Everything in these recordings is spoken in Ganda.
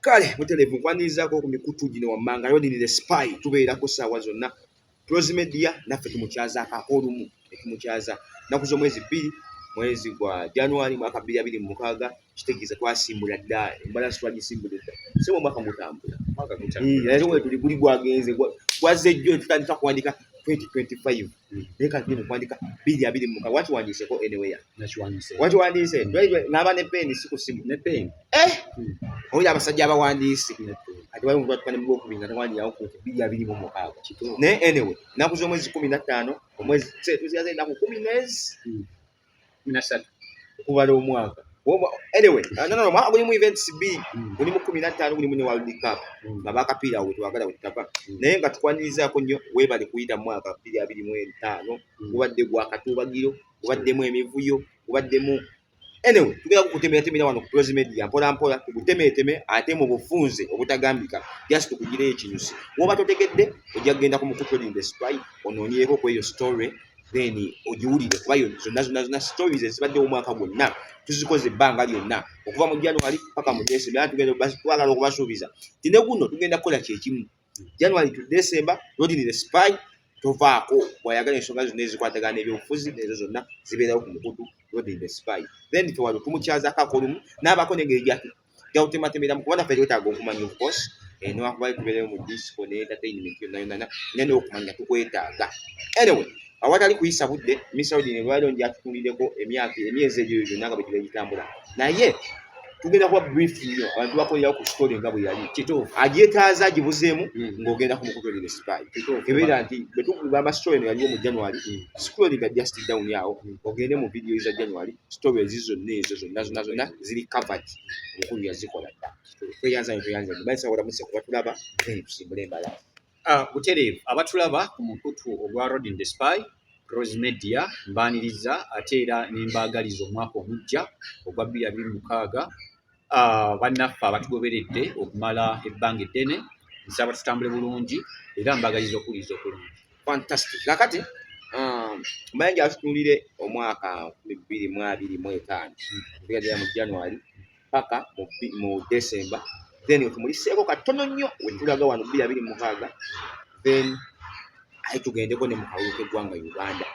kale mutelevu nkwanirizaako ku mikutu gino wammanga yodini the spy tubeerako saawa zonna close media naffe tumukyazaako ak'olumu etumukyaza nnaku z'omwezi bbiri mwezi gwa january mwaka bbiri abiri mu mukaaga kitegeeza twasimbula dda embalasi twagisimbula edda sebo omwaka mutambula mwaka gutambula era wetuli guli gwagenze gwazze jjo tutandika kuwandika 2025 naye kati bino kwandika biri abiri muka wakiwandiiseko anywhere nakiwandiise wakiwandiise ng'aba ne peeni si ku simu ne peeni eh hmm. oyo abasajja abawandiisi ati waliwo omuntu atuka ne mugwokubiri nga tewandirawo ku biri abiri mu mukaaga naye anyway ennaku z'omwezi kumi na ttaano omwezi tuzigaza ennaku kumi n'ezi hmm. minasatu okubala omwaka anyway uh, no, no, no, gulimu events bi mm. gulimu kumi nattaano gulimu ne world cup mm. nga bakapiira we twagala we tutava mm. naye nga tukwanirizaako nnyo weebale kuyita mu mwaka bbiri abiri mu etaano gubadde gwa katuubagiro gubaddemu emivuyo gubaddemu anyway tugenda kukutemeratemera wano ku prozi media mpola mpola tugutemeeteme ate mu bufunze obutagambika just tukugireyo ekinyusi woba totegedde ojja kugenda ku mukutulinda spy onoonyeeko ku eyo story then ogiwulire kuba zonna zonna zonna stories ezibadde omwaka gwonna tuzikoze ebbanga lyonna okuva mu january paka mu december era tugenda twagala okubasuubiza ti ne guno tugenda kukola kyekimu january to december rodini the spy tovaako bwayagala ensonga zonna ezikwatagana n'ebyobufuzi nezo zonna zibeerawo ku mukutu rodini the spy then tewali tumukyazako akolumu n'abaako nengeri jawutematemera mukuba naffe twetaaga okumanya ofcourse eh, newakubayo tubeereyo mu disco ne entertainment yonayonana naye nokumanya tukwetaaga anyway awatali kuyisa budde misaudi nebwaliro njatutundideko emyaka emyezi egyo gyonna nga bwegiba gitambula naye tugenda kuba brief nnyo abantu bakolerawo ku story nga bwe yali kituufu agyetaaza agibuzeemu hmm. ng'ogenda kumukutulira spy ebeera nti bwetugamba story no yaliwo mu january hmm. scrollinga just down awo hmm. ogende mu video za january sitoobu ezi zonna ezo zonna zonna zonna ziri covered omukulu yazikola dda tweyanza nyo tweyanza nyo bayinza kola museko batulaba then tusimbule embala ah, butereevu abatulaba ku mukutu ogwa road in the spy rose media mbaaniriza ate era nembaagaliza omwaka omujja ogwa bbiri abiri mukaaga Ah, bannaffe abatugoberedde okumala ebbanga eddene nsaba tutambule bulungi era mbagaliza okuwuliriza okulungi fantastic kakati um, mbaye nja tutunulire omwaka bibiri mu abiri mu etaano tugadira mu january paka mu december then otumuliseeko katono nnyo wetulaga wano bbiri abiri mukaaga then aye tugendeko ne mu kalulu k'eggwanga Uganda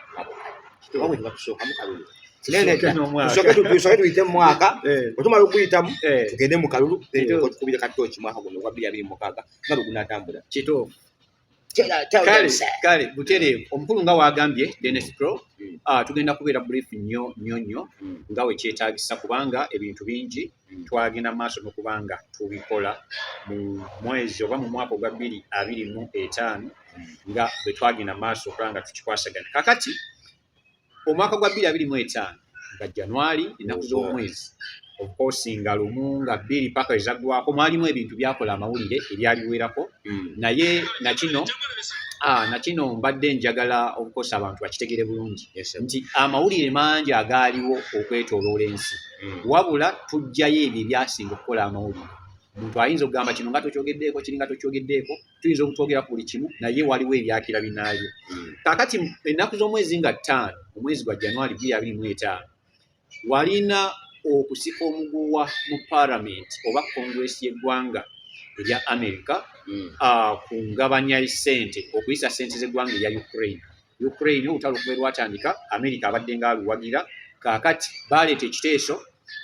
kitoba bwe tubatusookamu kalulu tusooke tuyite mu mwaka otumala okuyitamu tugende mu kalulu tukubire katooki mwaka guno ogwa bbiri abiri mukaaga nga bwe gunaatambula kituufu kale butereevu omukulu nga wagambye denis pro hmm. ah, tugenda kubeera brief nnyo nnyo nnyo hmm. nga wekyetagisa kubanga ebintu bingi mm. twagenda maaso nokuba nga tubikola mu mwezi oba mu mwaka ogwa bbiri abiri mu etaano mm. nga bwe twagenda maaso okuba nga tukikwasagana kakati omwaka gwa bbiri abiri mu etaano nga januari ennaku z'omwezi okoosi nga lumu nga bbiri paka ezaggwako mwalimu ebintu byakola amawulire ebyaliwerako hmm. naye nakino ah, nakino mbadde njagala okukosa abantu bakitegere bulungi nti amawulire mangi agaaliwo okwetoloola ensi hmm. wabula tujjayo ebyo ebyasinga okukola amawulire omuntu ayinza okugamba kino nga tokyogeddeeko kiri nga tokyogeddeeko tuyinza okutwogera ku buli kimu naye waliwo ebyakira binaabyo hmm. kakati ennaku z'omwezi nga ttaano omwezi gwa januari biri abiri mu etaano walina okusika omuguwa mu paramenti oba konguresi y'eggwanga erya amerika hmm. ah, ku ngabanya sente okuyisa sente z'eggwanga erya ukraine Ukraine olutalo okuva lwatandika Amerika abadde nga aluwagira kaakati baaleeta ekiteeso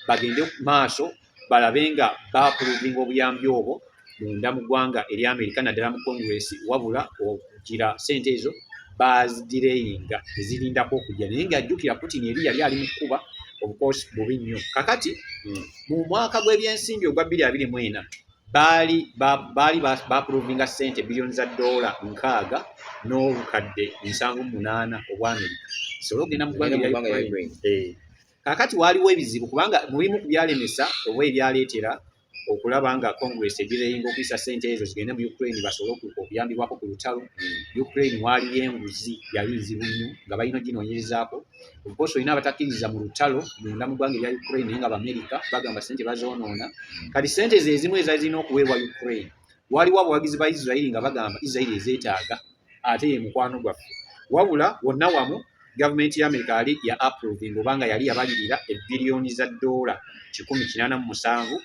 bagende maaso balabe nga baapuluvinga obuyambi obwo munda mu ggwanga eri Amerika naddala mu Congress wabula okugira sente ezo baazidirainga ezirindako okujja naye ng'ajjukira Putin eri yali ali mu kukuba obukosi bubi nnyo kakati hmm. mu mwaka gw'ebyensimbi ogwa bbiri abiri mu ena baali baali baapulovinga ssente biliyoni za doola nkaaga n'obukadde nsanvu munaana obwamerika zisobole okugenda mu ggwanga erya ukraine eh. kaakati waaliwo ebizibu kubanga mu bimu ku byalemesa oba ebyaleetera okulaba nga congress egireyinga okuyisa ssente ezo zigende mu ukraine basobole okuyambibwako ku lutalo mm. ukraine waaliyo enguzi yali nzibu nnyo nga balina oginoonyerezaako obukosi olina abatakkiririza mu lutalo munda mu ggwanga erya ukraine naye nga baamerika bagamba sente bazoonoona kati sente ze ezimu ezali zirina okuweebwa ukraine waliwo abawagizi ba israeli nga bagamba israeli ezeetaaga ate ye mukwano gwaffe wabula wonna wamu gavumenti ya amerika yali ya approvinga obanga yali yabalirira ebiriyoni za ddoola kikumi kinaana mu musanvu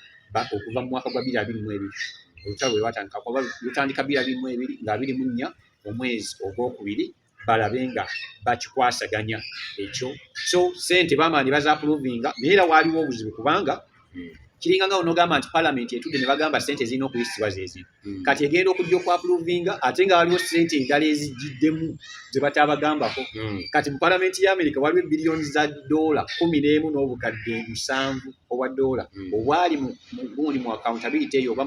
okuva mu mwaka gwa biri abiri mu ebiri olutalo lwe lwatandika kuba lutandika biri abiri mu ebiri nga abiri mu nnya omwezi ogwokubiri balabe nga bakikwasaganya ekyo so sente bamaani bazapuluvinga naye era waaliwo obuzibu kubanga hmm. kiringa nga onogamba nti palamenti etudde ne bagamba sente zirina okuyisibwa zezi hmm. kati egenda okujja okwapuluvinga ate nga waliwo sente endala ezijiddemu ze batabagambako hmm. kati mu palamenti ya amerika waliwo ebiliyoni za doola kumi n'emu n'obukadde musanvu obwa doola obwali mugundi mu akawuntability eyo oba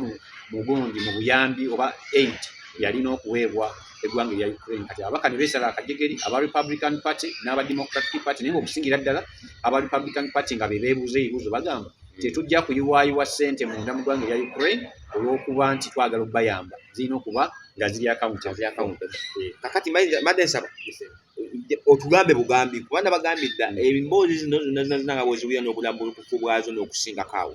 mugundi mu buyambi oba eight yalina okuweebwa eggwanga erya Ukraine kati ababaka ne beesala akajegeri aba Republican Party n'aba Democratic Party naye ng'okusingira ddala aba Republican Party nga be beebuuza ebibuuzo bagamba hmm. tetujja kuyiwaayiwa ssente munda mu ggwanga erya Ukraine olw'okuba nti twagala okubayamba zirina okuba nga ziri akawunti ziri akawunti eh, kakati made nsaba otugambe bugambi kuba nabagambidda hmm. emboozi zino zonna zina zina nga bweziwulira n'obulambulukufu bwazo n'okusingako awo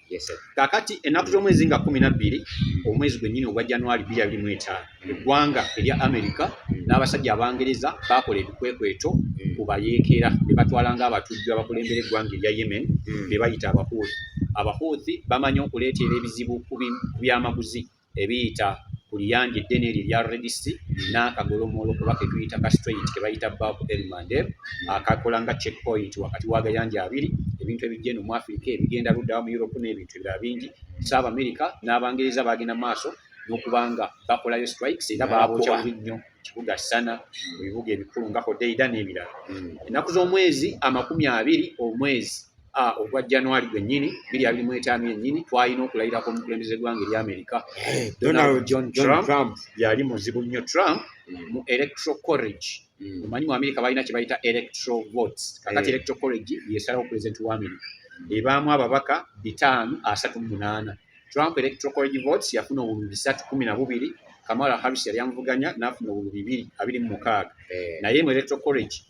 kakati ennaku z'omwezi nga kumi nabbiri omwezi gwennyini ogwa januari biri abiri mu etaano eggwanga erya amerika n'abasajja abangereza baakola ebikwekweto ku bayeekera be batwala ng'abatujju abakulembera eggwanga erya yemen be bayita abahuuthi abahuuthi bamanyi okuleeteera ebizibu ku byamaguzi ebiyita ku liyanja eddene eryo erya redisi n'akagolomolo kuba ke tuyita ka straight ke bayita baku elmande akakola nga check point wakati w'agayanja abiri ebintu ebijja eno mu afirika ebigenda luddawa mu europe n'ebintu ebirala bingi saaba amerika n'abangereza bagenda maaso n'okubanga bakolayo strikes era baabokya bubi nnyo kibuga sana mu bibuga ebikulu nga hodeida n'ebirala hmm. ennaku z'omwezi amakumi abiri omwezi Ah, ogwa january gwennyini biri abiri mu etaano yennyini twalina okulayira ku omukulembeze gwanga eri amerika eh, donald john trump yali muzibu nnyo trump mm. mu electro corrage mm. omanyi mu amerika balina kye bayita electro votes kakati eh. electro corrage yesalawo pulezidenti wa amerika ebaamu ababaka bitaano asatu mu munaana trump electro corrage votes yafuna obululu bisatu kumi na bubiri kamala harris yali amuvuganya n'afuna obululu bibiri abiri mu mukaaga eh. naye mu electro corrage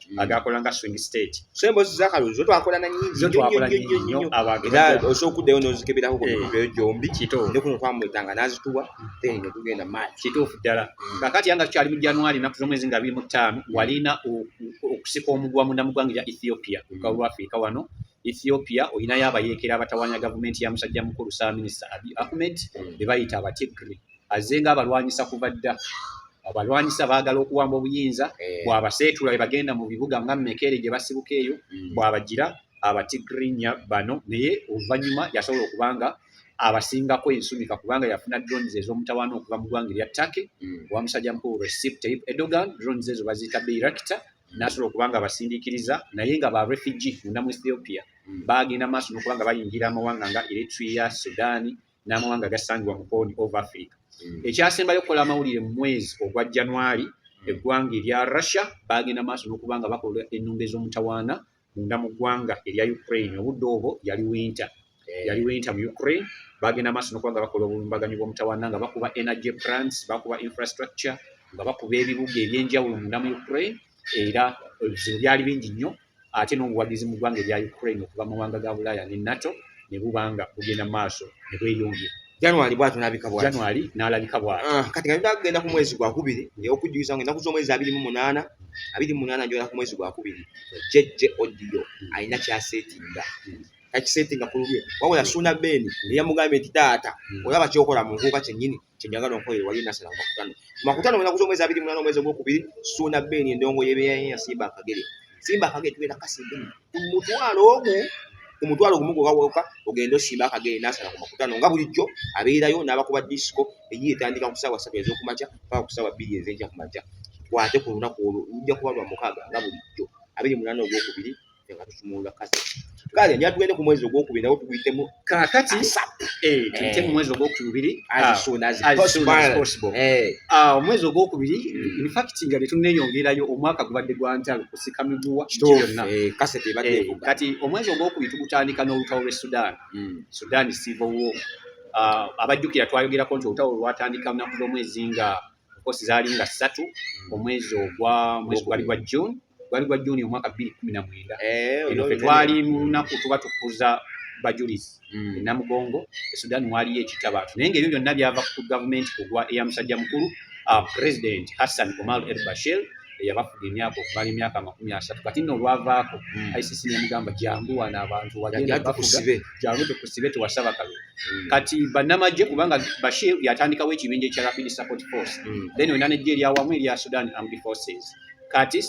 mm. agakola nga swing state so embozi za kalulu zo twakola na nyingi zo twakola nyingi nyo abantu era osokuddeyo n'ozikebirako ku bibyo eh. gyombi ne kuno twamwetanga n'azituwa mm. then ne tugenda maati kituufu ddala mm. kakati yanga tukyali mu januari ennaku z'omwezi nga biri mu ttaano walina okusika omugwa munda mu ggwanga erya ethiopia ku kalulu afirika wano ethiopia olinayo abayeekera abatawanya gavumenti ya musajja mukulu saaminisita abi ahmed be bayita abatigri mm. azze nga abalwanyisa kuva dda abalwanyisa baagala okuwamba obuyinza eh. bwabaseetula bebagenda mu bibuga nga mekere gye basibuka eyo hmm. bwabagira abatigrinya bano naye oluvannyuma yasobola okuba nga abasingako ensumika kubanga yafuna drones ez'omutawaana okuva mu ggwanga erya turkey hmm. owa musajja mukulu recep tayib edogan drones ezo baziyita beirakita nasobola okuba nga abasindikiriza naye nga ba refugee munda mu ethiopia hmm. baagenda maaso nokuba nga bayingira amawanga nga eritria sudani n'amawanga agasangibwa mu Horn of Africa. Mm. Ekyasembayo okukola amawulire mu mwezi ogwa January, mm. eggwanga erya Russia baagenda maaso n'okuba nga bakola ennumba ez'omutawaana munda mu ggwanga erya Ukraine. Obudde obwo yali winter. Eh. Yali winter mu Ukraine. Baagenda maaso n'okuba nga bakola obulumbaganyi bw'omutawaana nga bakuba energy plants, bakuba infrastructure, nga bakuba ebibuga eby'enjawulo munda mu Ukraine era ebizibu byali bingi nnyo ate n'obuwagizi mu ggwanga erya Ukraine okuva mu mawanga ga Bulaaya ne NATO ne buba nga bugenda maaso ne bweyongera. January bwatu nabika bwatu. January nalabika bwatu. Uh, kati ngenda kugenda ku mwezi gwa kubiri ndio okujjuza ngenda kuzo mwezi abiri mu munana abiri mu munana njola ku mwezi gwa kubiri jeje odiyo hmm. alina kya settinga hmm. kaki settinga kulubye wabula suna beni hmm. yamugambye nti taata olaba kyokola mu nkuuka kyennyini kyenjagala onkolere wali nasala mu makutano mu makutano wena kuza omwezi abiri munana omwezi ogwokubiri suuna beeni endongo yebeyaya simba akagere simba akagere tugenda kasimba mutwalo omu omutwalo gumu gwewawoka ogende osimba akagere nasala ku makutano nga bulijjo abeerayo n'abakuba disiko eyi etandika ku saawa satu ez'okumakya paka ku saawa bbiri ez'enkya kumakya kwate ku lunaku olwo lujja kuba lwa mukaaga nga bulijjo abiri munana ogwokubiri nga tusumulula kati kale nja tugende ku mwezi ogwokubiri nawo tuguyitemu kakati eh, tuyite mu mwezi ogwokubiri ah, eh. ah, omwezi ogwokubiri hmm. infact nga tetunenyongerayo omwaka gubadde gwa ntalo kusika miguwa kyonna eh, kati omwezi ogwokubiri tugutandika n'olutalo lwe sudan hmm. sudan civil war ah, abajjukira twayogerako nti olutalo lwatandika lunaku lwomwezi nga kosi zaali nga ssatu omwezi ogwa mwezi gwali gwa june gwali gwa june omwaka bbiri kumi na mwenda eh, eno fe twali mu lunaku tuba tukuza bajulizi hmm. enamugongo esudan waliyo ekitabaatu naye ngaebyo byonna byava ku gavumenti kugwa eya musajja mukulu ah, president hassan omal el bashir eyabafuga emyaka okumala emyaka amakumi asatu kati nno olwavaako hmm. icc nemugamba jangu wano abantu wagendabafuga jangu tukusibe tewasaba kalulu mm. kati banamagye kubanga bashir yatandikawo ekibinja ekya rapid support force mm. then wena nejje eryawamu erya sudan armed forces kati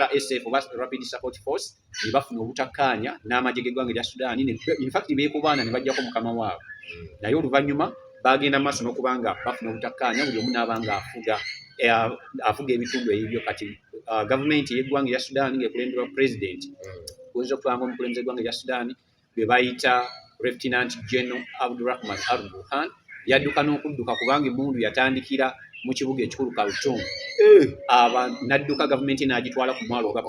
rsf oba rapid support force nebafuna obutakkaanya n'amagye g'eggwanga erya sudan infact beekubaana ne bajjako mukama waabwe mm. naye oluvannyuma bagenda maaso n'okuba nga bafuna obutakkaanya buli omu n'aba nga afuga eh, afuga ebitundu ebibyo kati uh, gavumenti ey'eggwanga erya sudan ng'ekulemberwa pulezidenti oyinza okulanga omukulembeze gwanga erya sudan bwe bayita reftinant general abdurahman al burhan yadduka n'okudduka kubanga emundu yatandikira mu kibuga ekikulu kaltum eh. aba nadduka gavumenti n'agitwala ku mwalo oga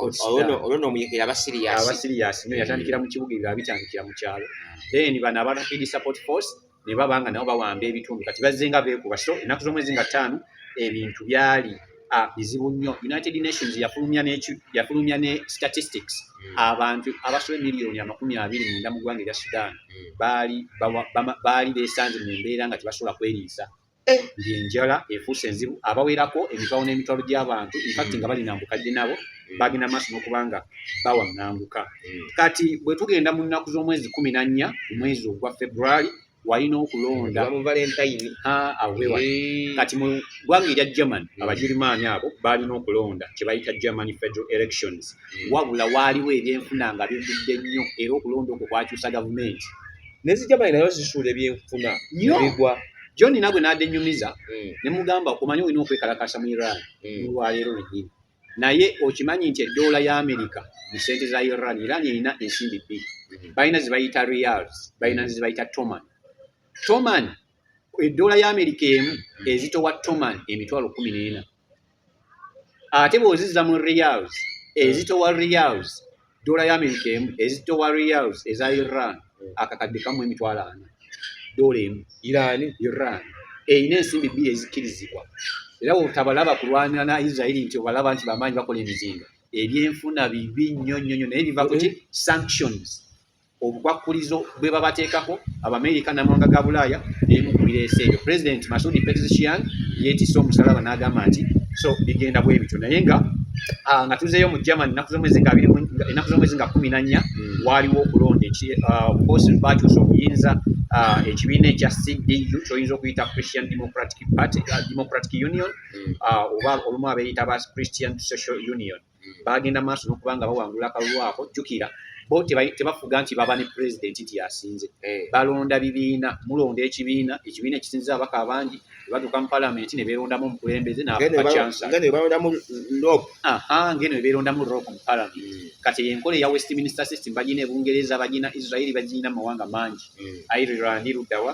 abasiriyasi nyo yatandikira mu kibuga ebyo abitandikira mu kyalo then bano aba rapid support force ne baba nga nabo bawamba ebitundu kati bazze nga beekuba so ennaku z'omwezi nga ttaano ebintu byali ah, bizibu nnyo united nations yafulumya yafulumya ne statistics hmm. abantu abasobe miliyoni amakumi abiri munda mu ggwanga erya sudan hmm. baali baali beesanze mu mbeera nga tebasobola kweriisa eh. ng'enjala efuuse enzibu abawerako emitwalo n'emitwalo gy'abantu infacti nga balina mbukadde nabo bagenda maaso n'okuba nga bawaŋŋanguka hmm. kati bwe tugenda mu nnaku z'omwezi kumi na nnya ku mwezi ogwa february walina okulonda eh. kati mu ggwanga erya german hmm. abagirimaani abo baalina okulonda kye bayita german federal elections hmm. wabula waaliwo ebyenfuna nga bivudde nnyo era okulonda okwo kwakyusa gavumenti nezijamani nayo zisuula ebyenfuna bigwa John nagwe n'adenyumiza mm. ne mugamba okumanya olina okwekalakaasa mu Iran mm. olwaleero lwennyini naye okimanyi nti eddoola ya Amerika mu ssente za Iran Iran erina ensimbi bbiri mm. balina ze bayita reals balina ze bayita toman toman eddoola ya Amerika emu ezitowa toman emitwalo kumi n'ena ate bwozizza mu reals ezitowa reals dola ya amerika emu ezitowa reals eza iran akakadde kamu emitwalo ana dola emu iran iran erina ensimbi bbiri ezikkirizibwa era wotabalaba kulwanira na israeli nti obalaba nti bamaanyi bakola emizinga ebyenfuna bibi nnyo nnyo nnyo naye biva kuki sanctions obukwakkulizo bwe babateekako abamerika namawanga ga bulaaya emu ku bireese ebyo pulezidenti masudi petzshian yeetise omusalaba n'agamba nti so bigenda bwe bityo naye nga ah, nga tuzeeyo mu german ennaku z'omwezi nga abiri ennaku z'omwezi nga kumi na nnya hmm. waaliwo okulonda ah, obukosi baatuusa obuyinza ah, ekibiina ekya cdu kyoyinza okuyita christian democratic party democratic union hmm. oba olumu abeeyita ba christian social union bagenda maaso n'okuba nga bawangula akalulu ako jjukira bo tebafuga nti baba ne pulezidenti nti yasinze eh. balonda bibiina mulonda ekibiina ekibiina ekisinziza abaka abangi bebatuuka mu palamenti ne beerondamu omukulembeze nabakyansangeno ebeerondamu rok mu palamenti hmm. kati yenkola eya westminster system bagina ebungereza bagina israeli bagina mu mawanga mangi hmm. ireland luddawa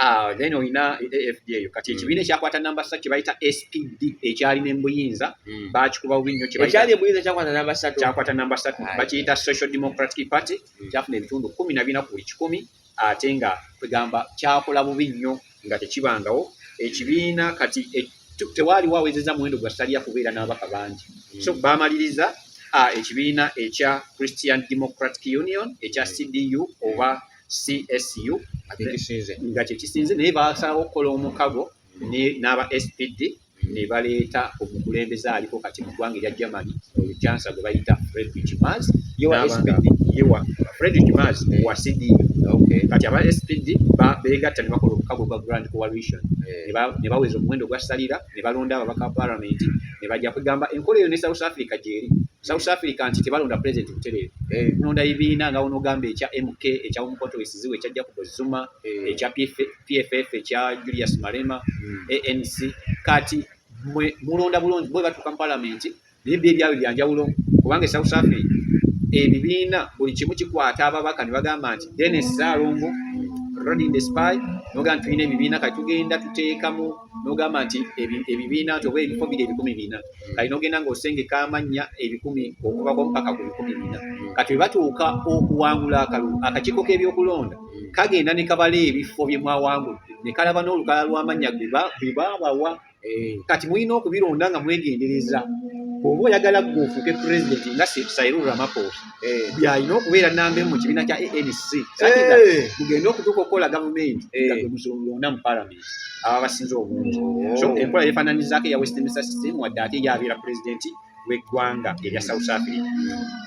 Ah, then olina AFD eyo kati hmm. ekibiina ekyakwata namba satu kyebayita SPD ekyali nembuyinza hmm. bakikuba bubi nnyo kyakwata namba satu bakiyita social democratic party hmm. kyafuna ebitundu kumi na bina ku buli kikumi ate nga kwegamba kyakola bubi nnyo nga tekibangawo ekibiina kati e, tewaali wawezeza muwendo gwa saliya kubeera n'ababaka bangi so bamaliriza ah, ekibiina ekya christian democratic union ekya cdu oba csu nga kyekisinze naye basalawo okukola omukago n'aba spd ne baleeta omukulembeze aliko kati mu ggwanga erya germany olukyansa gwe bayita fredrich mas fredrich mas wa cd kati aba spd begatta ne bakola omukago gwa grand coalition eh. ne baweza omuwendo gwa salira ne balonda ababaka ba palamenti ne bajja kwegamba enkola eyo ne south africa gyeri south africa nti tebalonda pulezidenti butereevu eh. nonda ebibiina nga wonoogamba ekya mk ekya omukoto wesiziwe ekya jacob zuma eh. ekya pff ekya julius malema hmm. anc kati mulonda bulungi bwe batuuka mu palamenti naye byo ebyabwe byanjawulo kubanga e south africa ebibiina buli kimu kikwata ababaka ne bagamba nti denis salongo rodin the spy noga nti tulina ebibiina kati tugenda tuteekamu nogamba nti ebibiina nti oba ebifo biri ebikumi bina kati nogenda nga osengeka amannya ebikumi okubako mpaka ku bikumi bina kati webatuuka okuwangula akalulu akakiiko k'ebyokulonda kagenda ne kabala ebifo bye mwawangudde ne kalaba n'olukala lw'amannya bebaabawa eh. kati mulina okubironda nga mwegendereza oba oyagala gwe ofuuke pulezidenti nga sairu ramaposa eh. byalina okubeera namba emu mu kibiina kya anc eh. mugende okutuuka okukola gavumenti nga gwe muzolonda mu palamenti aba basinze obungi oh. so enkola yefananyizaako eya westminster system wadde ate yabeera pulezidenti w'eggwanga erya South Africa.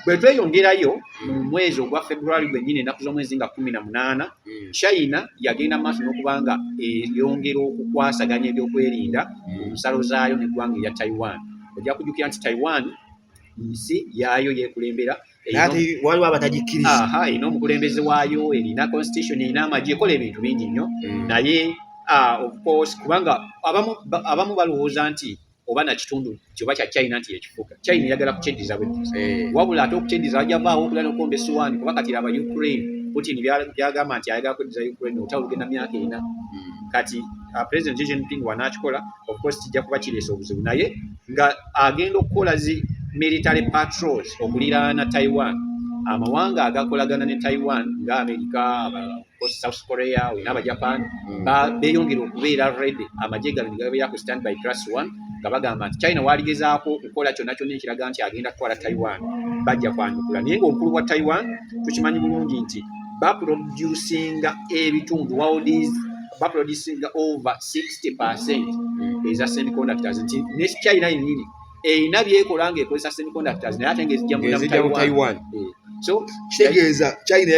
Bwe tweyongerayo mu mwezi ogwa February gwennyini ennaku z'omwezi nga kumi na munaana, hmm. China yagenda maaso n'okuba nga eyongera okukwasaganya ebyokwerinda mu hmm. nsalo zaayo n'eggwanga erya Taiwan. Ojja kujjukira nti Taiwan nsi yaayo yeekulembera waliwo abatagikkiriza erina omukulembeze waayo erina constitution erina amagye ekola ebintu bingi nnyo hmm. naye ah, kubanga abamu balowooza nti oba na kitundu kyoba kya China nti ekifuga China eyagala kukyendiza bwe eh. wabula ate okukyendiza wajavaawo okula nokomba esuwaani kuba kati aba Ukraine Putin byagamba nti ayagala kweddiza Ukraine olutalo lugenda myaka ena hmm. kati uh, President Xi Jinping wanaakikola of course kijja kuba kireesa obuzibu naye nga agenda okukola zi military patrols okuliraana Taiwan amawanga agakolagana ne Taiwan nga Amerika South Korea olina abajapan mm. beyongera okubeera ready amagye gano negabeera ku stand by plus one nga bagamba nti china waaligezaako okukola kyonna kyonna ekiraga nti agenda kutwala taiwan bajja kwanukula naye ngaomukulu wa taiwan tukimanyi bulungi nti baproducinga ebitundu waldis baproducinga over 60 percent mm. eza semiconductors nti ne china yenyini erina byekola nga ekozesa semiconductors naye ate nga ezijja mu Taiwan eh. so kitegeeza China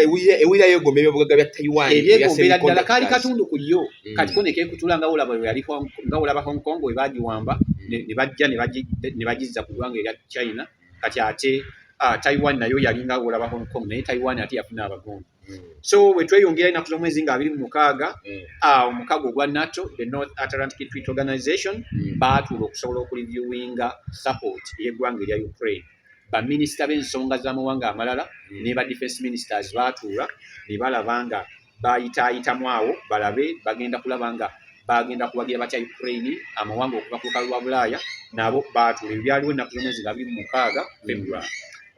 ewulira yegomba ebyobugagga bya Taiwan ebyegombera ddala kaali katundu ku yo mm. kati ko nekekutula nga olaba yali nga olaba Hong Kong we bagiwamba mm. ne bajja ne bagizza ku ggwanga erya China kati ate ah, Taiwan nayo yali nga olaba Hong Kong naye Taiwan ate yafuna abagongo Mm. so wetweyongera enaku zomwezi nga abiri mumukaaga mm. ah, omukago ogwa nato the north atlantic treat organization mm. baatuula okusobola okuliviewinga support eyegwanga erya ukraine baminisita bensonga zamawanga amalala ne ba defense ministers baatuula nebalaba nga bayitaayitamu awo balabe bagenda kulaba nga bagenda kuwagira batya ukraine amawanga okuva ku lukalu lwa bulaaya nabo baatuula ebyaliwo enaku zomwezi nga abiri mumukaaga february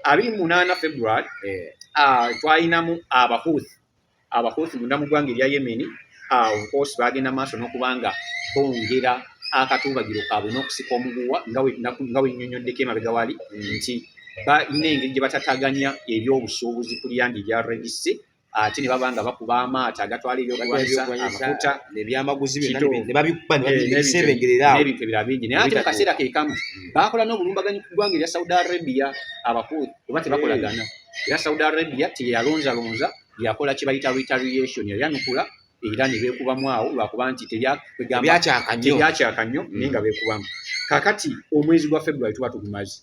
abiri mu munaana february eh. ah, twalinamu abahuthi abahuthi munda mu ggwanga erya yemeni ah, ofcourse bagenda maaso n'okuba nga bongera akatuubagiro kaabwe n'okusika omuguwa nga wenyonyoddeko emabega wali mm. nti balina engeri gye batataganya ebyobusuubuzi ku lyandi erya redisi ate ne baba nga bakuba amaato agatwala ebyokulwanyisa amafuta nebyamaguzi byonanebabikubanebintu eh, ebirala bingi naye ate mukaseera kekamu hmm. bakola n'obulumbaganyi ku ggwanga erya saudi arabia abakulu kuba tebakolagana eh. era saudi arabia teyalonzalonza yakola kyebayita retaliation yayanukula era ne beekubamu awo lwakuba nti tebyakyaka nnyo mm. naye nga beekubamu kakati omwezi gwa february tuba tugumazi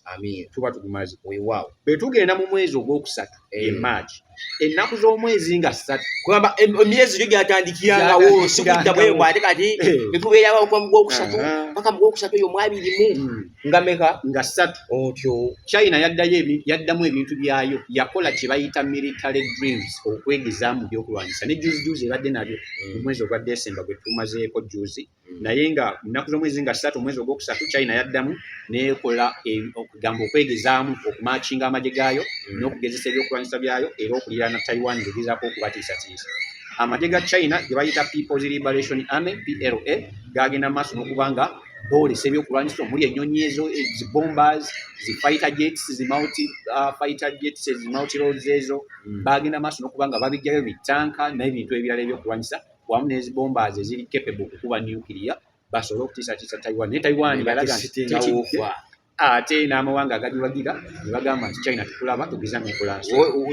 tuba tugumazi wewaawo bwe tugenda mu mwezi ogwokusatu eh. e march ennaku z'omwezi nga ssatu kugamba emyezi gyo gyatandikirangawo sikudda bwebwa ate kati eh. netubeerawo gwokusatu paka mugwokusatu eyo mwabirimu mm. nga meka nga ssatu otyo china yaddayo yaddamu ebintu byayo yakola kye bayita military dreams okwegeza mu byokulwanyisa ne juzi juzi ebadde nabyo mm. mu mwezi ogwa desemba gwe tumazeeko juzi mm. naye nga nnaku z'omwezi nga ssatu omwezi ogwokusatu china yaddamu nekola e, okugamba okwegezaamu okumakinga amagye gaayo mm. n'okugezesa ebyokulwanyisa byayo era okulira na taiwan ngegezaako okubatiisatiisa amagye ga china ge bayita peoples liberation army pla gagenda maaso n'okuba nga boolesa ebyokulwanyisa omuli ennyonyi ezo eh, zi bombers zi fighter jets zi multi uh, fighter jets zi multi roads ezo mm. bagenda maaso nokuba nga babijjayo bitanka n'ebintu ebirala ebyokulwanyisa wamu n'ezi bombers eziri capable okukuba nuclear basobole okutiisatiisa taiwan naye taiwan yalaga nti ate n'amawanga agaliwagira ne bagamba nti china tukulaba tugeza nokola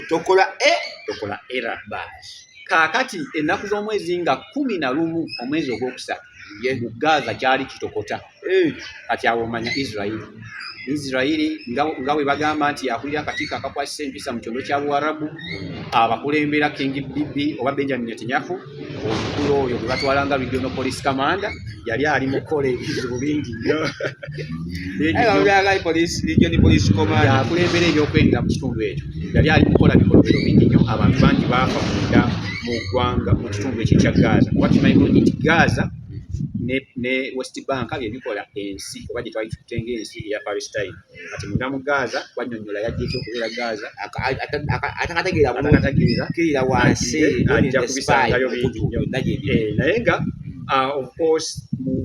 tokola e tokola era baasi kaakati ennaku z'omwezi nga kumi na lumu omwezi ogwokusatu mu gaza kyali kitokota eh. kati awo omanya israeli israeli nga bwe bagamba nti yakulira akakiiko akakwasisa empisa mu kyondo kya buwarabu abakulembera king bibi oba benjamin netanyahu omukulu oyo gwe batwala nga regional police commander yali ali mu kukola ebizibu bingi nnyo yakulembera ebyokwerinda mu kitundu ekyo yali ali mukukola bikolobero bingi nnyo abantu bangi baafa munda mu ggwanga mu kitundu ekyo ekya gaza kuba kimanyi bulungi nti gaza ne west bank byebikola ensi oba gyetwali tukutenga ensi eya palestine kati munda mu Gaza banyonyola yajja ekyo okubeera Gaza atakategeera bulungi kirira wansi ajja kubisangayo bingi nnyo eh, naye nga uh, of course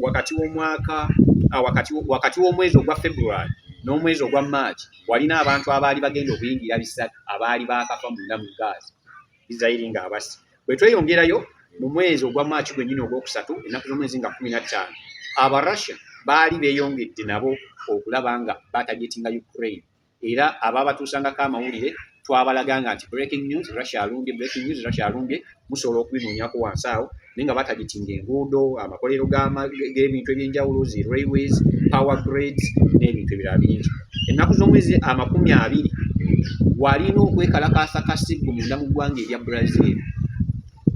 wakati w'omwaka uh, wakati w'omwezi ogwa February n'omwezi ogwa March walina abantu abaali bagenda okuyingira bisatu abaali baakafa munda mu Gaza Isiraeri ng'abasi. Bwe tweyongerayo mu mwezi ogwa Maaki gwennyini ogwokusatu, ennaku z'omwezi nga kkumi na ttaano, Abarussia baali beeyongedde nabo okulaba nga baatagetinga Ukraine era abaabatuusangako amawulire twabalaganga nti breaking news Russia alumbye, breaking news Russia alumbye, musobola okubinoonyako wansi awo. naye nga batagitinga enguudo amakolero g'ebintu ebyenjawulo zi railways power grades n'ebintu ebirala bingi ennaku z'omwezi amakumi abiri walina okwekalakaasa kasiggu munda mu ggwanga erya brazil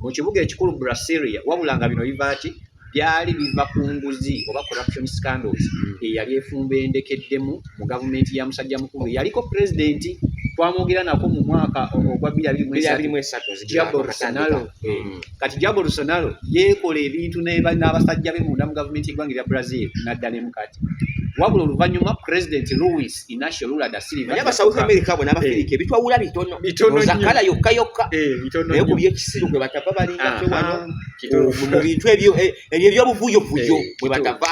mu kibuga ekikulu brasilia wabula nga bino biva ki byali biva ku nguzi oba corruption scandals hmm. eyali efumba endekeddemu mu gavumenti ya musajja mukulu eyaliko pulezidenti twamwogera nako mu mwaka ogwa bbirabirimuesatusnalo hmm. kati jabo lusanalo yeekola ebintu n'abasajja be munda mu gavumenti yeggwanga erya brazil nadda ne mukati wabula oluvannyuma president louis inacio lula da silva naye abasouth america bona abafirika eh. ebitwawula bitono bitonoakala yokka yokka eh, naye ku byekisiru gwe batava balinga ah, ah, mu bintu ebyo eh, ebyo ebyobuvuyovuyo eh, bwe batava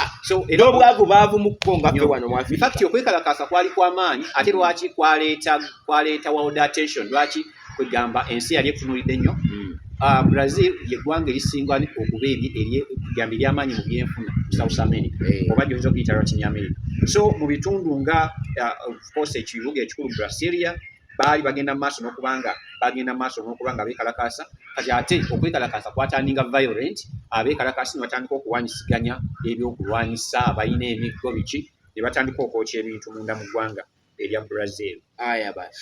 n'obwavu baavu mu kko nga ffe wano mwafiakti okwekalakaasa kwali kw'amaanyi ate lwaki kwaleeta kwaleeta world attention lwaki kwegamba ensi yali etunulidde nnyo hmm. ah, brazil yeggwanga erisinga okuba eryegamba ery'amaanyi mu byenfuna south america eh. oba gyoyinza okuyita latin america so mu bitundu nga ah, ofcourse ekibuga ekikulu brasilia baali bagenda maaso nokubanga bagenda maaso nokubanga bekalakaasa kati ate okwekalakaasa kwatandinga violent abekalakaasi nebatandika okuwanyisiganya ebyokulwanyisa abalina emiggo biki nebatandika okwokya ebintu munda mu ggwanga erya brazil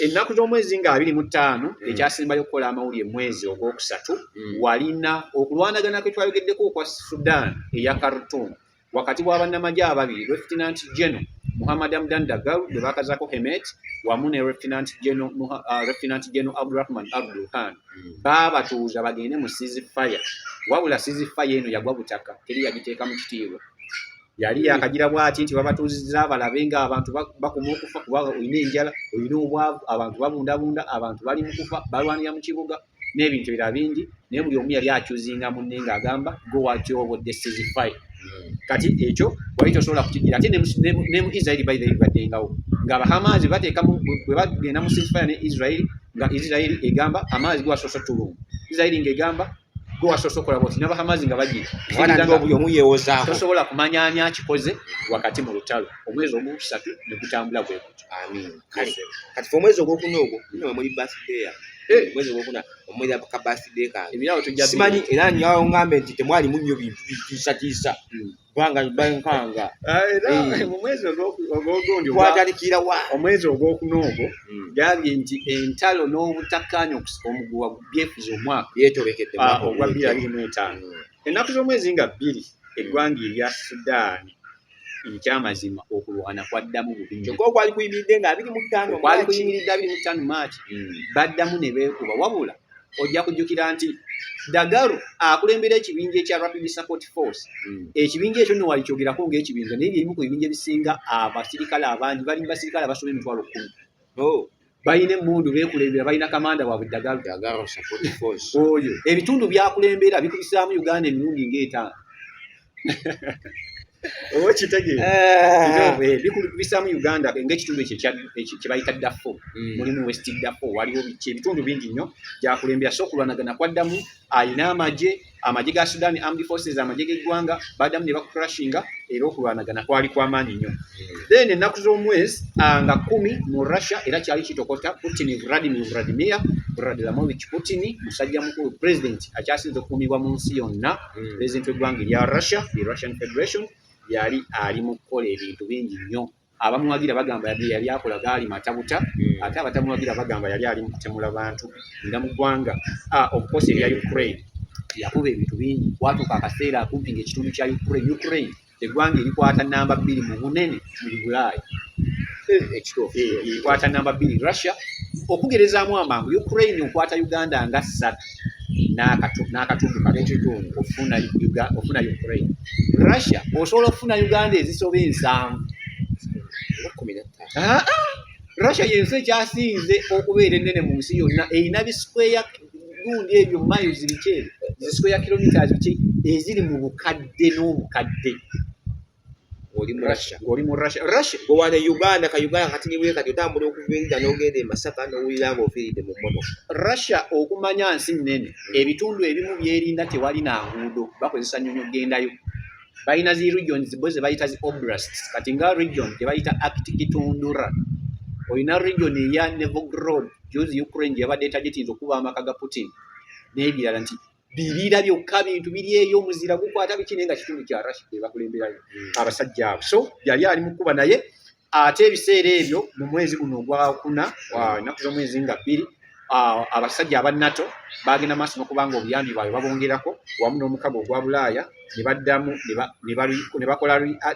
ennaku z'omwezi nga abiri mu ttaano mm. ekyasembayo okukola amawulire mwezi ogwokusatu mm. walina okulwanagana kwe twayogeddeko okwa sudan eya kartum wakati wa bannamagye ababiri Lieutenant General Muhammad Hamdan Dagalo gwe baakazaako Hemet wamu ne Lieutenant General uh, Abdurahman Abdul Khan hmm. baabatuuza bagende mu sizi fire wabula sizi fire eno yagwa butaka teri yagiteeka mu kitiibwa yali hmm. yakagira bwati nti babatuuzizza abalabe nga abantu bakuma okufa kuba olina enjala olina obwavu abantu babundabunda abantu bali mu kufa balwanira mu kibuga n'ebintu ebira bingi naye buli omu yali acuzinga munne nga agamba go watyobo desizify hmm. kati ekyo wali tosobola kukigira ate ne mu israeli by the way baddengawo nga abahamaazi bateeka bwe bagenda mu sisifaya ne israeli nga israeli egamba amaazi gwasoso tulungu israeli ng'egamba gwe wasoose okola bwoti nabahamazi nga bagirtosobola kumanya ani akikoze wakati mu lutalo omwezi ogwokusatu negutambula gwekutyo kati omwezi ogwokuna ogwo muli basdeya mwezi gwokuna omwezi ka birthday kange ebirabo tujja simanyi era nyawo ngambe nti temwali munyo bintu bitiisa tiisa hmm. banga bankanga ah, era eh. mu mwezi ogwogundi kwatalikira wa omwezi ogwokuna ogwo hmm. gambye nti entalo n'obutakkaanya okusika omuguwa byefuza omwaka yetobekedde ah, ogwa bbiri abiri mu etaano hmm. ennaku z'omwezi nga bbiri eggwanga erya sudaani ekyamazima okulwana kwaddamu bubikyokka okwali kuyimiridde nga abiri mu ttaano kwali kuyimiridde abiri mu ttaano maaki hmm. baddamu ne beekuba wabula ojja kujjukira nti dagaru akulembera ekibinja ekya rapid support force hmm. ekibinja ekyo nowali kyogerako ngaekibinja naye byebimu ku bibinja ebisinga abasirikale abangi bali mu basirikale abasoma emitwalo kkumi oh. balina emmundu beekulembera balina kamanda waabwe dagalo oyo ebitundu byakulembera bikubisaamu uganda emirundi ngaetaano oba kitegeera eh. eh, bikubisaamu uganda ngaekitundu ekyo kyebayita dafo hmm. mulimu west dafo waliwo ebitundu bingi nnyo gyakulembera so okulwanagana kwaddamu alina amagye amagye ga sudan armed forces amagye geggwanga badamu ne bakukrashinga era okulwanagana kwali kwamaanyi nnyo then ennaku z'omwezi nga kumi mu russia era kyali kitokota putin vladimir vladimir vladlamovich putin musajja mukulu president akyasinza okukuumibwa mu nsi yonna hmm. president w'eggwanga erya russia the russian federation yali ali mu kukola ebintu bingi nnyo Abamuwagira bagamba yadde yali akola gaali matabuta hmm. ate abatamuwagira bagamba yali ali mukutemula bantu nga mu ggwanga okukosa ebya Ukraine yakuba ebintu bingi kwatuuka akaseera akumpi nga ekitundu kya Ukraine Ukraine eggwanga erikwata namba bbiri mu bunene mu Bulaaya eh, ekituufu erikwata eh, eh, namba bbiri Russia okugerezaamu amangu Ukraine okwata Uganda nga ssatu n'akatundu katundu ofuna ofuna Ukraine Russia osobola okufuna Uganda ezisoba ensanvu ah, ah. Russia yensi ekyasinze okubeera ennene mu nsi yonna erina bisikweya gundi ebyo miles biki ebyo zisikweya kilometres biki eziri mu bukadde n'obukadde oli mu Russia ng'oli mu Russia Russia gwe wano e Uganda ka Uganda kati niwe kati otambula okuva erida n'ogenda e Masaka n'owulira ng'ofiiridde mu mmotoka Russia okumanya nsi nnene hmm. ebitundu ebimu byerinda tewali na nguudo bakozesa nnyonyi okugendayo balina zi regions bo ze bayita zi oblasts kati nga region gye bayita Aktikitundura olina region eya Nevrograd juzi Ukraine gye yabadde etagitinza okuba amaka ga Putin n'ebirala nti biriira byokka bintu biri eyo omuzira gukwata biki naye nga kitundu kya rashid ebakulemberayo hmm. abasajja abo so yali ali mukuba naye ate ebiseera ebyo mu mwezi guno ogwakuna enaku z'omwezi nga bbiri abasajja aba nato bagenda maaso nokubanga obuyambi bwabwe babongerako wamu n'omukago ogwa bulaaya ne baddamu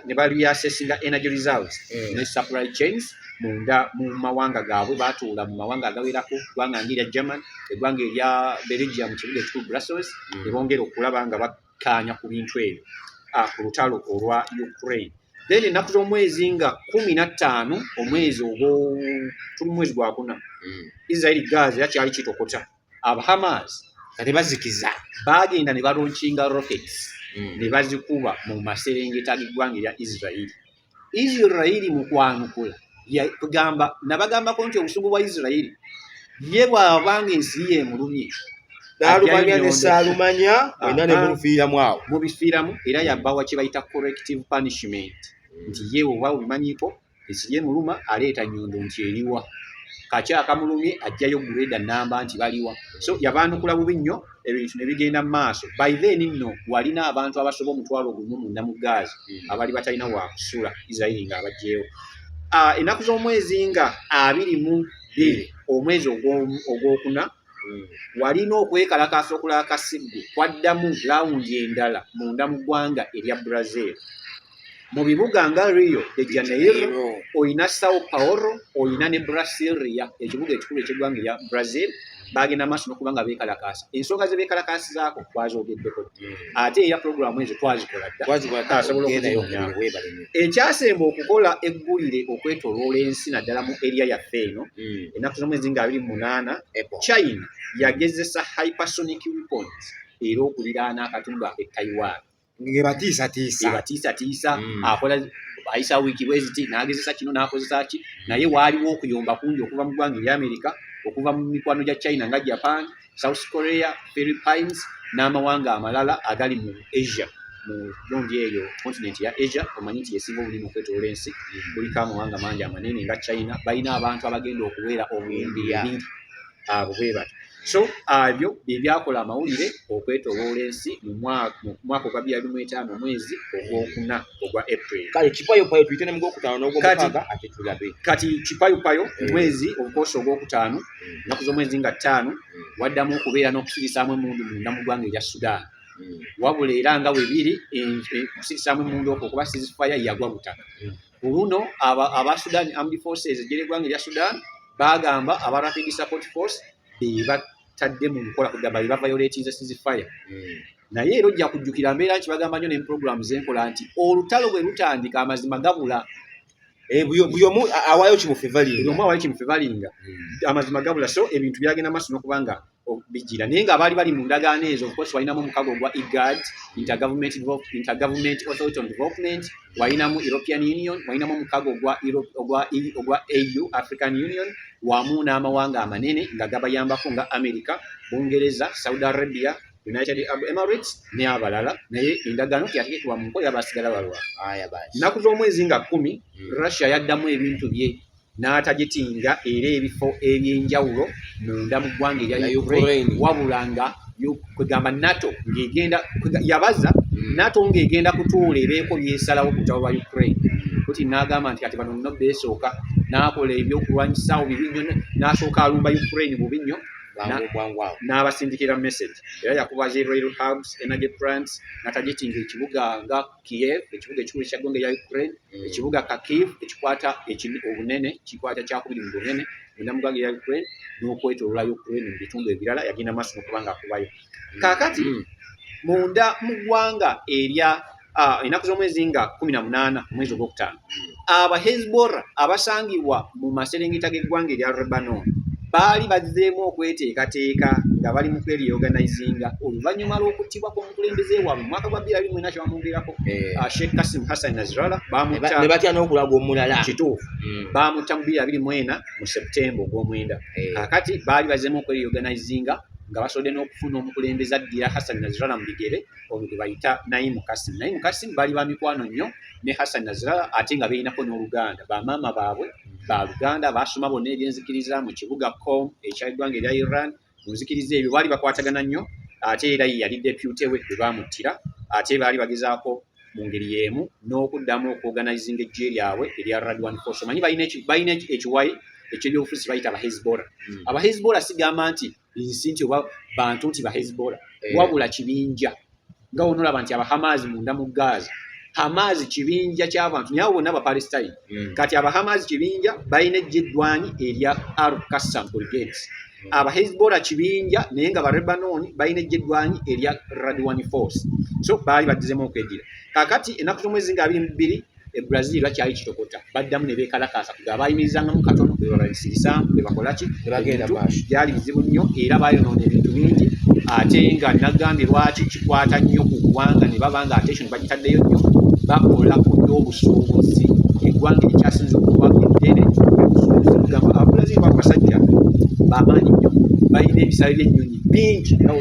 ne bareassessinga energy reserves mm. ne supply chains munda mu mawanga gaabwe baatuula mu mawanga agawerako eggwanga nga erya german eggwanga erya belgium kibuga ekikulu brussels mm. ne bongera okulaba nga bakkaanya ku bintu ebyo ah, ku lutalo olwa ukraine then ennaku z'omwezi nga kumi na ttaano omwezi ogwo tuli mu mwezi gwakuna mm. israeli gaza era kyali kitokota abahamas kati bazikiza bagenda ne balunkinga rockets mm. ne bazikuba mu maserengeta g'eggwanga erya israeli israeli mu kwanukula yagamba nabagambako nti obusungu bwa israeli ye bwabanga ensi ye emulumye nalumanya nesaalumanya wena nemulufiiramu awo mubifiiramu era yabawa kyebayita corrective punishment nti ye oba obimanyiiko Besigye muluma aleeta nyondo nti eriwa kaki akamulumye ajjayo gureda namba nti baliwa so yabaanukula bubi nnyo ebintu ne bigenda mu maaso by then nno walina abantu abasoba omutwalo ogumu munda mu gaazi hmm. abali batalina wakusula isirairi nga abajjeewo ah, ennaku z'omwezi nga abiri mu bbiri omwezi ogwokuna walina okwekalakaasa okulaba kasiggu kwaddamu lawundi endala munda mu ggwanga erya brazil mu bibuga nga rio de janeiro olina sao paolo olina ne brasilia ekibuga ekikulu ekyeggwanga erya brazil bagenda maaso nokuba nga bekalakaasa ensonga ze bekalakaasizaako kwazogeddeko ate era pulogulaamu ezo twazikola ddaekyasemba okukola eggulire okwetoloola ensi naddala mu eriya yaffe eno hmm. ennaku z'omwezi nga abiri munaana china yagezesa hypersonic weapons era okuliraana akatundu ake taiwan ngebatiisatiisa hmm. akola ayisa wiiki bweziti n'agezesa kino n'akozesa ki naye waaliwo okuyomba kungi okuva mu ggwanga ery'amerika okuva mu mikwano gya china nga japan South Korea, Philippines n'amawanga amalala agali mu Asia mu gundi eyo kontinenti ya Asia omanyi nti yesinga obunene okwetoola ensi mm. kuliko amawanga mangi amanene nga China balina abantu abagenda okubeera obuyimbi bibiri abo bwe bati so abyo bye byakola amawulire okwetoloola ensi mu mwaka ogwa bya bimu etaano omwezi ogwokuna ogwa april kale kipayoppayo tuyite ne mu gwokutaano n'ogwomukaaga ate tulabe kati kipayoppayo omwezi ogukoosa ogwokutaano ennaku z'omwezi nga ttaano waddamu okubeera n'okusirisaamu emundu munda mu ggwanga erya sudaani wabula era nga webiri okusirisaamu emundu okwo kuba sizifaya yagwa butaka ku luno aba sudan armed forces ejjera eggwanga erya sudan bagamba aba rapid support force bebatadde mu nkola kugamba bebavayoletinze sizifaya naye era ojja kujjukira mbeera nti bagamba nyo nemuprogramu zenkola nti olutalo bwe lutandika amazima gabula Eh, buli omu awaayo kimufivalinga omu awaayo kimufivalinga hmm. amazima gabula so ebintu byagenda maaso nokuba nga bijira naye nga abaali bali mu ndagaano ezo ofcourse walinamu omukago ogwa igad intergovernment intergovernment authority on development walinamu european union walinamu omukago ogwa ogwa ogwa au african union wamu n'amawanga amanene nga gabayambako nga america bungereza saudi arabia United Arab Emirates ne abalala naye endagaano teyategekewa mu nkola yabasigala balwa nnaku z'omwezi nga kkumi hmm. Russia yaddamu ebintu bye n'atagitinga era ebifo eby'enjawulo munda mu ggwanga erya Ukraine wabula nga kwegamba nato ngegenda yabaza hmm. nato ngegenda kutuula ebeeko byesalawo kutabo ba ukraine hmm. kuti nagamba nti kati bano nno beesooka nakola ebyokulwanyisaawo bibi nnyo nasooka alumba ukraine bubi nnyo n'abasindikira message era yakuba zi rail hubs energy plants natagetinga ekibuga nga kiev ekibuga ekikulu ekyaggwanga eya ukraine mm. ekibuga kakiv ekikwata obunene kikwata kyakubiri mu bunene munda mu ggwanga eya ukraine n'okwetolola ukraine mu bitundu ebirala yagenda maaso nokuba nga akubayo mm. kakati mm. munda mu ggwanga erya ah, enaku z'omwezi nga kumi na munaana omwezi ogwokutaano aba hezbora abasangibwa mu maserengeta g'eggwanga erya rebanon baali bazzeemu okweteekateeka nga bali mu kwerioganizinga oluvannyuma lw'okuttibwa kw'omukulembeze waabwe mu mwaka gwa bbiri abiri mwena kyebamwogerako eh. ah, sheikh kasim hassan nazirala ne batya n'okulaga omulala kituufu hmm. baamutta mu bbiri abiri mwena mu septemba ogw'omwenda eh. kakati baali bazzeemu okwerioganizinga nga basobodde n'okufuna omukulembeze addira hassan nazirala mu bigere oyo gwe bayita naimu kasim naimu kasim bali ba mikwano nnyo ne hassan nazirala ate nga beyinako n'oluganda bamaama baabwe ba luganda baasoma bonna ebyenzikiriza mu kibuga com ekya eggwanga erya iran mu nzikiriza ebyo baali bakwatagana nnyo ate era ye yali depute we bwe baamuttira ate baali bagezaako mu ngeri y'emu n'okuddamu okuoganizinga eggye lyabwe erya radwan force omanyi balina ekiwayi ekyebyobufuzi bayita abahezbola hmm. abahezbola sigamba nti nsi nti oba bantu nti bahezbola eh. wabula kibinja nga wonolaba nti abahamaazi munda mu gaaza hamaazi kibinja kyabantu naye abo bonna abapalestine hmm. kati abahamaazi kibinja balina ejja eddwanyi erya ar kassam brigades hmm. abahezbola kibinja naye nga barebanon balina ejja eddwanyi erya radwani force so baali baddizemu okwedira kakati enaku zomwezi nga abiri mu bbiri e Brazil bakyali kitokota baddamu ne beekalakaasa kuga abaayimirizangamu katono be babasirisaamu be bakola ki ebintu byali bizibu nnyo era baayonoona ebintu bingi ate nga nagambye lwaki kikwata nnyo ku ggwanga ne baba nga attention bagitaddeyo nnyo bakola ku by'obusuubuzi eggwanga erikyasinza okuba eddene obusuubuzi kugamba ababulazimu ba basajja bamaanyi nnyo balina ebisale by'ennyonyi bingi era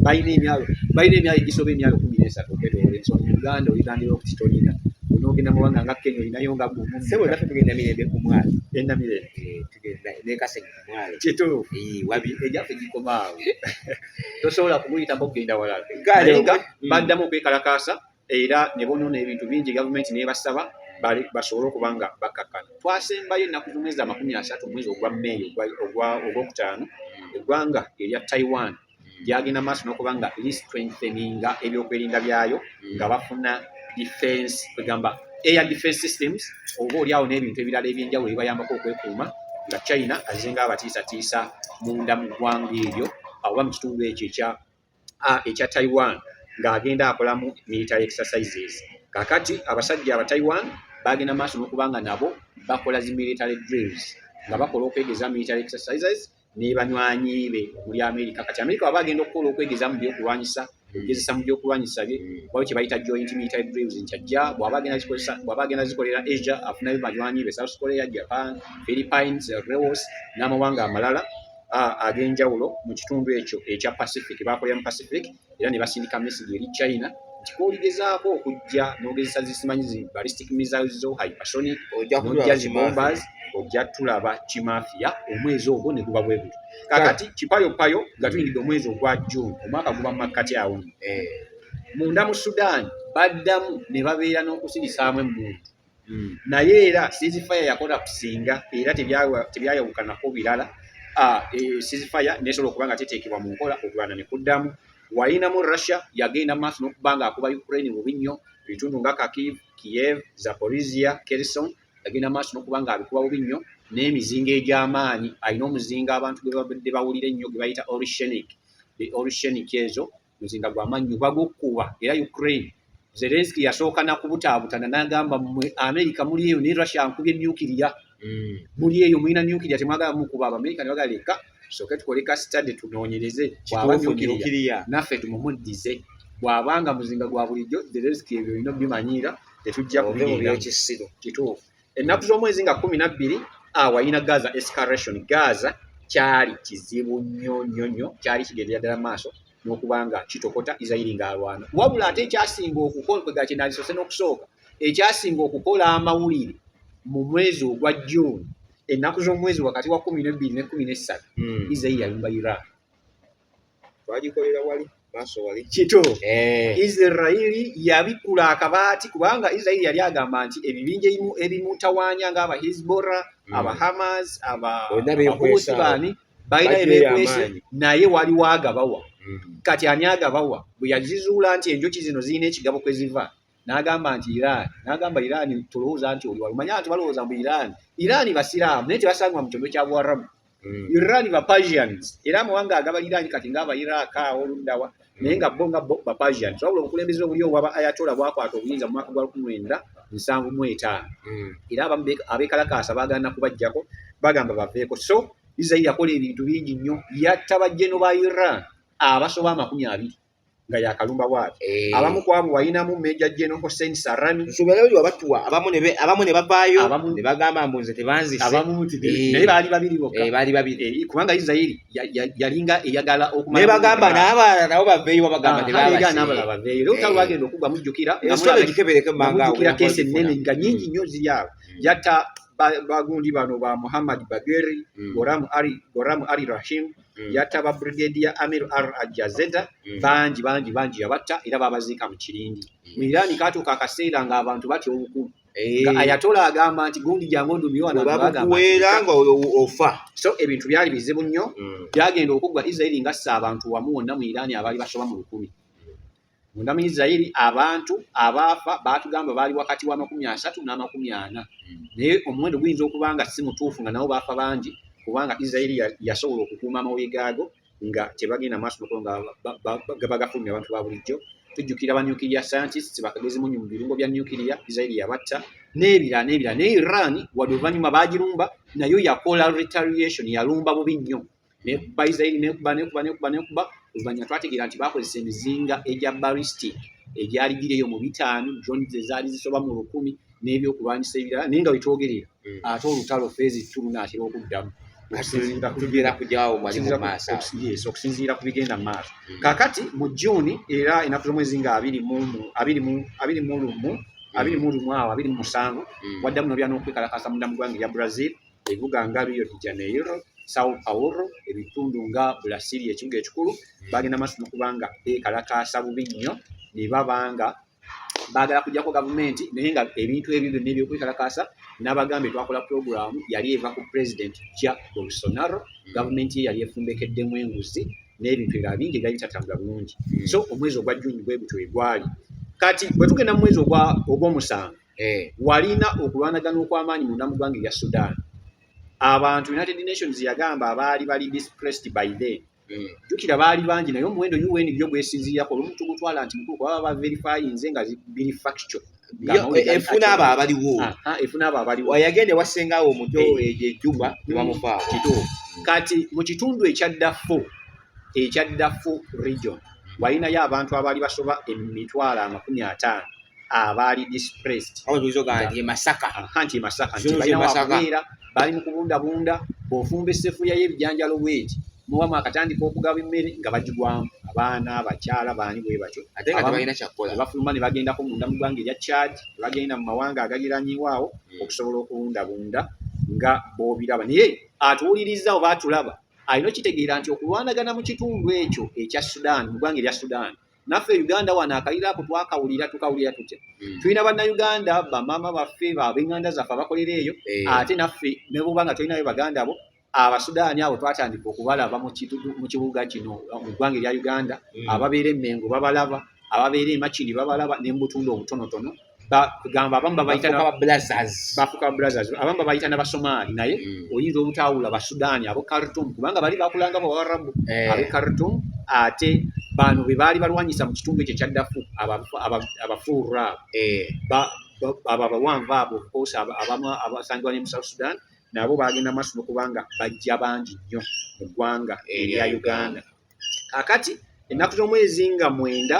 balina emyalo balina emyalo egisoba emyalo kumi n'esatu okwetoola ensonga uganda oligandira nti tolina onogenda mubanga nga kenya olinayo nga gumu sebo nafe tugenda mirembe ku mwalo enda mirembe eh, tugenda nekasenya ku mwalo kituufu wabi egyafe gikomaawo tosobola kumuyitamu okugenda walala galenga mm. baddamu okwekalakaasa era ne bonoona ebintu bingi gavumenti nebasaba basobole okuba nga bakkakkana twasembayo ennaku z'omwezi amakumi asatu omwezi ogwa meeyi ogwokutaano eggwanga erya taiwan gyagenda maaso nokuba nga listrengtheninga ebyokwerinda byayo nga bafuna defense kwegamba air defense systems oba oliawo n'ebintu ebirala ebyenjawulo ebibayambako okwekuuma nga china azenga abatiisatiisa munda mu ggwanga eryo oba mu kitundu ekyo ekya ekya taiwan ng'agenda akolamu military exercises kakati abasajja aba taiwan bagenda maaso nokuba nga nabo bakola zi military drills nga bakola okwegeza military exercises ne banywanyi be omuli amerika kati amerika waba agenda okukola okwegeza mu byokulwanyisa okugezesa mu byokulwanyisa bye waliwo kye bayita joint military drills nti ajja bwaba agenda zikozesa bwaba agenda zikolera asia afunayo banywanyi be south korea japan philippines laos n'amawanga amalala ag'enjawulo mu kitundu ekyo ekya pacific bakolera mu pacific era ne basindika mesigi eri china nti koligezaako okujja nogezesa zisimanyi zi ballistic missiles zo hypersonic nojja zi bombers ojja tulaba kimafiya omwezi ogwo ne guba bwe gutyo kakati kipayopayo nga tuyingidde omwezi ogwa june omwaka guba mu makkati awo eh. munda mu sudan baddamu ne babeera n'okusirisaamu emmundu mm. naye era sizifaya yakola kusinga era tebyayawukanako birala ah, e, sizifaya nesobola okuba nga teteekebwa mu nkola okulwana ne kuddamu wayinamu russia yagenda maaso n'okuba nga akuba ukraine bubi nnyo ebitundu nga kakiv kiev zaporizia kerison yagenda maaso n'okuba nga abikuba bubi nnyo n'emizinga egy'amaanyi alina omuzinga abantu gwe babadde bawulira ennyo gwe bayita orishenic the orishenic ezo muzinga gwa mannyo bagukkuba era ukraine zelenski yasooka nakubutaabutana nagamba mwe amerika muli eyo ne russia nkubye nukiria mm. muli eyo mulina nukiria temwagala mukuba abamerika ne bagala leka soke tukole ka study tunoonyereze bwaba nukiria naffe tumumuddize bwabanga muzinga gwa bulijjo zelenski ebyo olina bimanyiira tetujja kubinyira kituufu ennaku z'omwezi nga kumi na bbiri awayina gaza escaration gaza kyali kizibu nnyo nnyo nnyo kyali kigendera ddala maaso n'okuba nga kitokota isirairi ng'alwana wabula ate ekyasinga okukolkwega kyenandisose n'okusooka ekyasinga okukola amawulire mu mwezi ogwa june ennaku z'omwezi wakati wa kumi nebbiri ne kumi nessatu hmm. isirairi yalumba iraq twagikolera wali maaso wali kito eh. isirairi yabikkula akabaati kubanga isirairi yali agamba nti ebibinja ebimu ebimutawaanya ngaaba hisbora hmm. aba hamas abausibani balina ebekwese naye waliwo agabawa hmm. kati ani agabawa bwe yazizuula nti enjoki zino zirina ekigabo kwe ziva n'agamba nti Iran n'agamba Iran tulowooza nti oli wali manya nti balowooza mbu Iran Iran basiraamu naye tebasangibwa mu kyondo kya Buwarabu mm. Iran ba Persians era amawanga agabaliraanyi kati ng'aba Iraq awo oluddawa mm. naye nga bo nga bo ba Persians wabula obukulembeze obuli obwaba Ayatollah bwakwata obuyinza mu mwaka gwa lukumi lwenda nsanvu mu etaano mm. era abamu abeekalakaasa baagaana kubajjako bagamba baveeko so Israel yakola ebintu bingi nnyo yatta bajjeno ba Iran abasoba amakumi abiri nga yakalumba bwati eh. abamu kwabo walinamu meja jeno hosen sarani nsubereyo wabatuwa abamu ne abamu ne babayo ne bagamba mbunze tebanzi abamu muti eh. naye bali babiri boka eh bali babiri eh, kubanga israeli yalinga eyagala okumanya ne bagamba naba nabo baveyo babagamba ne baba ga nabo baveyo leo tawa gendo kugwa mujukira nsubereyo jikebeleke manga mujukira kese nene nga nyingi mm. nyozi yabo mm. yata bagundi bano ba Muhammad Bageri mm. Goramu Ali Goramu Ali Rahim mm. yatta ba brigadier amir r ajazeta mm. bangi bangi bangi yabatta era babaziika mu kirindi mu iraani katuuka akaseera ng'abantu batya obukulu eh. ayatola agamba nti gundi jangu ondumiwanabakuweera nga ofa so ebintu byali bizibu nnyo mm. byagenda okuggwa israeli ngassa abantu wamu wonna mu iraani abaali basoba mu lukumi Munda mu Isiraeri abantu abaafa baatugamba baali wakati w'amakumi asatu n'amakumi ana, hmm. naye omuwendo guyinza okuba nga si mutuufu nga nabo baafa bangi kubanga Isiraeri yasobola okukuuma amawulire gaago nga tebagenda maaso nokolo nga bagafulumya abantu ba bulijjo. Tujjukira ba nuclear scientists bakagezi munyu mu birungo bya nuclear, Isiraeri yabatta n'ebirala n'ebirala. Naye Iran wadde oluvannyuma baagirumba nayo yakola retaliation, yalumba bubi nnyo nekuba israeli nekuba nekuba nekuba nekuba oluvanyuma twategeera nti bakozesa emizinga egya baristic egyali giri eyo mu bitaano drone zezaali zisoba mu lukumi n'ebyokulwanyisa ebirala naye nga wetwogerera hmm. ate olutalo feezi tulunaatera okuddamu okusinziira ku bigenda mu maaso hmm. kakati mu juuni era enaku z'omwezi nga abiri mu lumu abiri mu lumu hmm. awo abiri mu musanvu waddamu nobyana okwekalakasa munda mu gwanga erya brazil ebibuga nga Rio de Janeiro, Sao Paulo, ebitundu nga Bulasiri ekibuga ekikulu bagenda maaso nokuba nga beekalakaasa bubi nnyo ne baba nga baagala kujjako gavumenti naye nga ebintu ebyo byonna ebyokwekalakaasa n'abagambye twakola pulogulaamu yali eva ku pulezidenti ja bolsonaro gavumenti ye yali efumbekeddemu enguzi n'ebintu ebirala bingi ebyali bitatambula bulungi hmm. so omwezi ogwa juni bwe gutyo egwali kati bwe tugenda mu mwezi ogw'omusanvu eh. walina okulwanagana okw'amaanyi munda mu ggwanga erya sudan abantu united nations yagamba abaali bali dispressed by then hmm. jukira baali bangi naye omuwendo un yo gwesinziirako olumu tugutwala nti mukulu kuba baba verifyinze nga biri factual efuna abo abaliwo efuna abo abaliwo yagenda ewasenga awo omuto eh. ejo ejuba nebamufaa kituufu kati mu kitundu ekyaddafo ekya dafu region walinayo abantu abaali basoba emitwalo amakumi ataano abaali dispressed e masaka nti e masaka nti balina wakubeera bali mu kubundabunda bw'ofumba essefuya y'ebijanjalo bweti mubamu akatandika okugaba emmere nga bagigwamu abaana abakyala baani bwe batyo ate nga tebalina kyakukola bafuluma ne bagendako munda mu ggwanga erya chad ne bagenda mu mawanga agaliranyiwaawo hmm. okusobola okubundabunda nga bobiraba naye atuwulirizza oba atulaba alina okitegeera nti okulwanagana mu kitundu ekyo ekya sudan mu ggwanga erya sudan naffe uganda wano akaliro ako twakawulira tukawulira tutya hmm. tulina bannayuganda bamaama baffe babenganda zaffe abakolera eyo eh. ate naffe neboba nga tulinayo baganda bo abasudaani abo twatandika okubalaba mu kibuga kino mu ggwanga erya uganda hmm. ababeera emengo babalaba ababeera emakini babalaba nembutundu obutonotono gamba abamu babayitaabamu babayita nabasomaali naye mm. oyinza obutawula basudaani abo carton kubanga bali bakulanga bawarabu eh. abe carton ate bano bebaali balwanyisa mu kitundu ekyo kyaddafu abafuura eh. abo abawanvu abo okosa abamu abasangibwa ne musouth sudan nabo bagenda maaso nokubanga bajja bangi nnyo mu ggwanga erya uganda kakati ennaku z'omwezi nga mwenda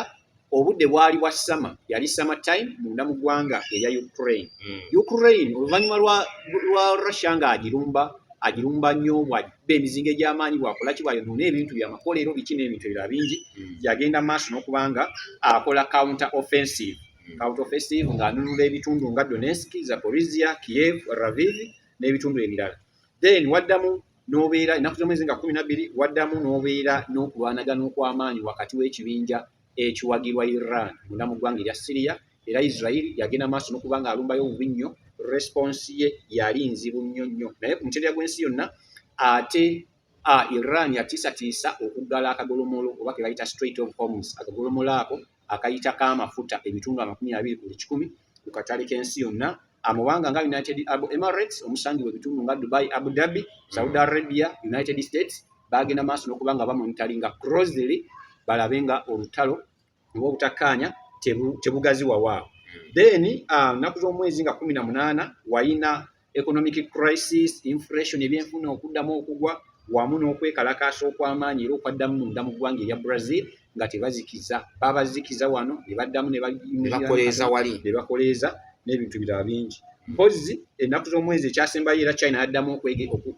obudde bwali bwa sama yali sama time munda mu ggwanga erya ukraine mm. ukraine oluvannyuma lwa, lwa russia nga agirumba agirumba nnyo bwabba emizinga egy'amaanyi bwakola ki bwayonoona ebintu byamakolero biki n'ebintu ebira bingi mm. yagenda maaso n'okubanga akola counter offensive mm. counter offensive ng'anunula ebitundu nga donetsk zaporizia kiev raviv n'ebitundu ebirala then waddamu n'obeera ennaku z'omwezi nga kumi nabbiri waddamu n'obeera n'okulwanagana okw'amaanyi wakati w'ekibinja ekiwagirwa iran munda mu ggwanga erya siriya era israel yagenda maaso n'okuba nga alumbayo obubi nnyo response ye yali nzibu nnyo nnyo naye ku mutendera gw'ensi yonna ate iran yatiisatiisa okuggala akagolomolo oba ke bayita straight of homes akagolomolo ako akayita k'amafuta ebitundu amakumi abiri ku buli kikumi ku katale k'ensi yonna amawanga nga united arab emirates omusangi webitundu nga dubai abu dhabi saudi arabia united states bagenda maaso nokuba nga bamonitali nga crosly balabe nga olutalo oba obutakkaanya tebugaziwawaawo then ah, nnaku z'omwezi nga kumi na munaana wayina economic crisis inflation ebyenfuna okuddamu okugwa wamu n'okwekalakaasa okw'amaanyi era okwaddamu munda mu ggwanga erya brazil nga tebazikiza babazikiza wano ne baddamu nebakoleeza wali ne bakoleeza n'ebintu birala bingi mpozzi ennaku z'omwezi ekyasembayo era china yaddamu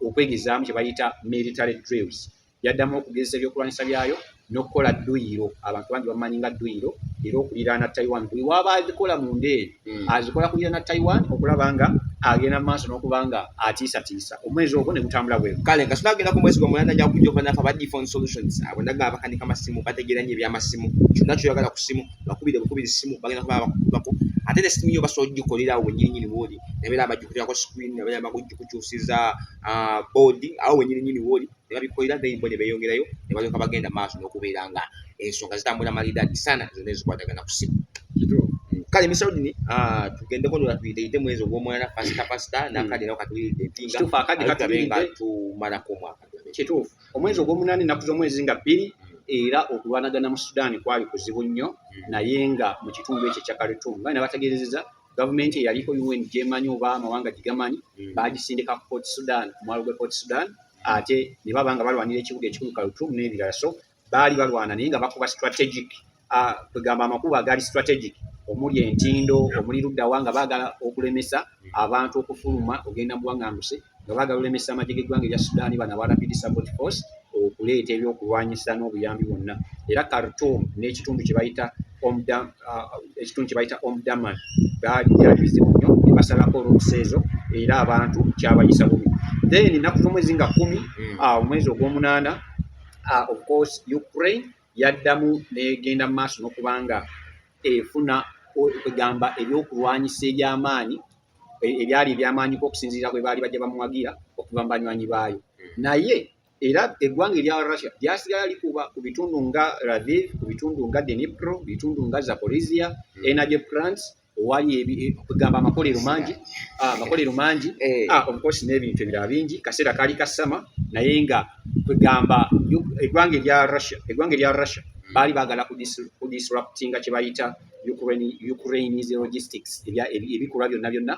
okwegezaamu kye bayita military drills yaddamu okugezesa ebyokulwanyisa byayo n'okukola dduyiro abantu bangi bamanyi nga dduyiro era okuliraana taiwan buli waaba azikola mu nda eyo hmm. azikola kuliraana taiwan okulaba nga agenda mu maaso n'okuba nga atiisatiisa omwezi ogwo ne gutambula bwe kale nga sinagenda ku mwezi gwamulanda nja kujja okuba nafa badi phone solutions abo ndaga abakanika masimu bategeera nnyo ebyamasimu kyonna kyoyagala ku simu bakubire bukubiri simu bagenda kuba bakukubako ate ne simu yo basobola ogikolerawo wenyininyini wooli nabeera abagikutirako screen nabeera bagujikukyusiza ah, boodi awo wenyininyini wooli ne babikolera then bo ne beeyongerayo ne balyoka bagenda maaso n'okubeera nga ensonga zitambula malidaadi sana zonna ezikwatagana ku ssimu kale misaudini ah, tugendeko nola tuyiteite mwezi ogwomwana pasita pasita hmm. nakade nao katuyite empingaenga tumalako omwaka kituufu omwezi ogwomunani naku zomwezi nga bbiri hmm. era okulwanagana mu sudaani kwali kuzibu nnyo hmm. naye nga mu kitundu ekyo ekya karitum nga nabategeerezeza gavumenti eyaliko un gyemanyi oba amawanga gigamanyi mm. bagisindika ku port sudan ku mwalo gwe port sudan ate ne baba nga balwanira ekibuga ekikulu kalutum n'ebirala so baali balwana naye nga bakuba strategic ah, kwegamba amakubo agaali strategic omuli entindo omuli luddawa nga baagala okulemesa abantu okufuluma ogenda mu buwaŋŋanguse nga baagala olemesa amagye g'eggwanga erya Sudan bano aba Rapid Support Force okuleeta ebyokulwanyisa n'obuyambi bwonna era Khartoum n'ekitundu kye bayita ekitundu kye bayita Omdurman byalibizibu nnyo ne basalako oluusi ezo era abantu kyabayisa bubi then ennaku z'omwezi nga kkumi hmm. ah, omwezi ogw'omunaana ah, of course Ukraine yaddamu n'egenda mu maaso n'okubanga efuna kwegamba ebyokulwanyisa eby'amaanyi e-, ebyali ebyamaanyiko okusinziira bwe baali bajja bamuwagira okuva mu banywanyi baayo hmm. naye era eggwanga erya russia lyasigala likuba ku bitundu nga raviv ku bitundu nga denipro bitundu nga zaporizia hmm. energy plants owali kugamba amakolero mangi ah, amakolero mangi eh. ah, obukosi n'ebintu ebirala bingi kaseera kaali kasama naye nga kwegamba eggwanga erya russia eggwanga erya russia baali bagala kudisruptinga kyebayita Ukraine, Ukraine is logistics ebya ebikolwa byonna byonna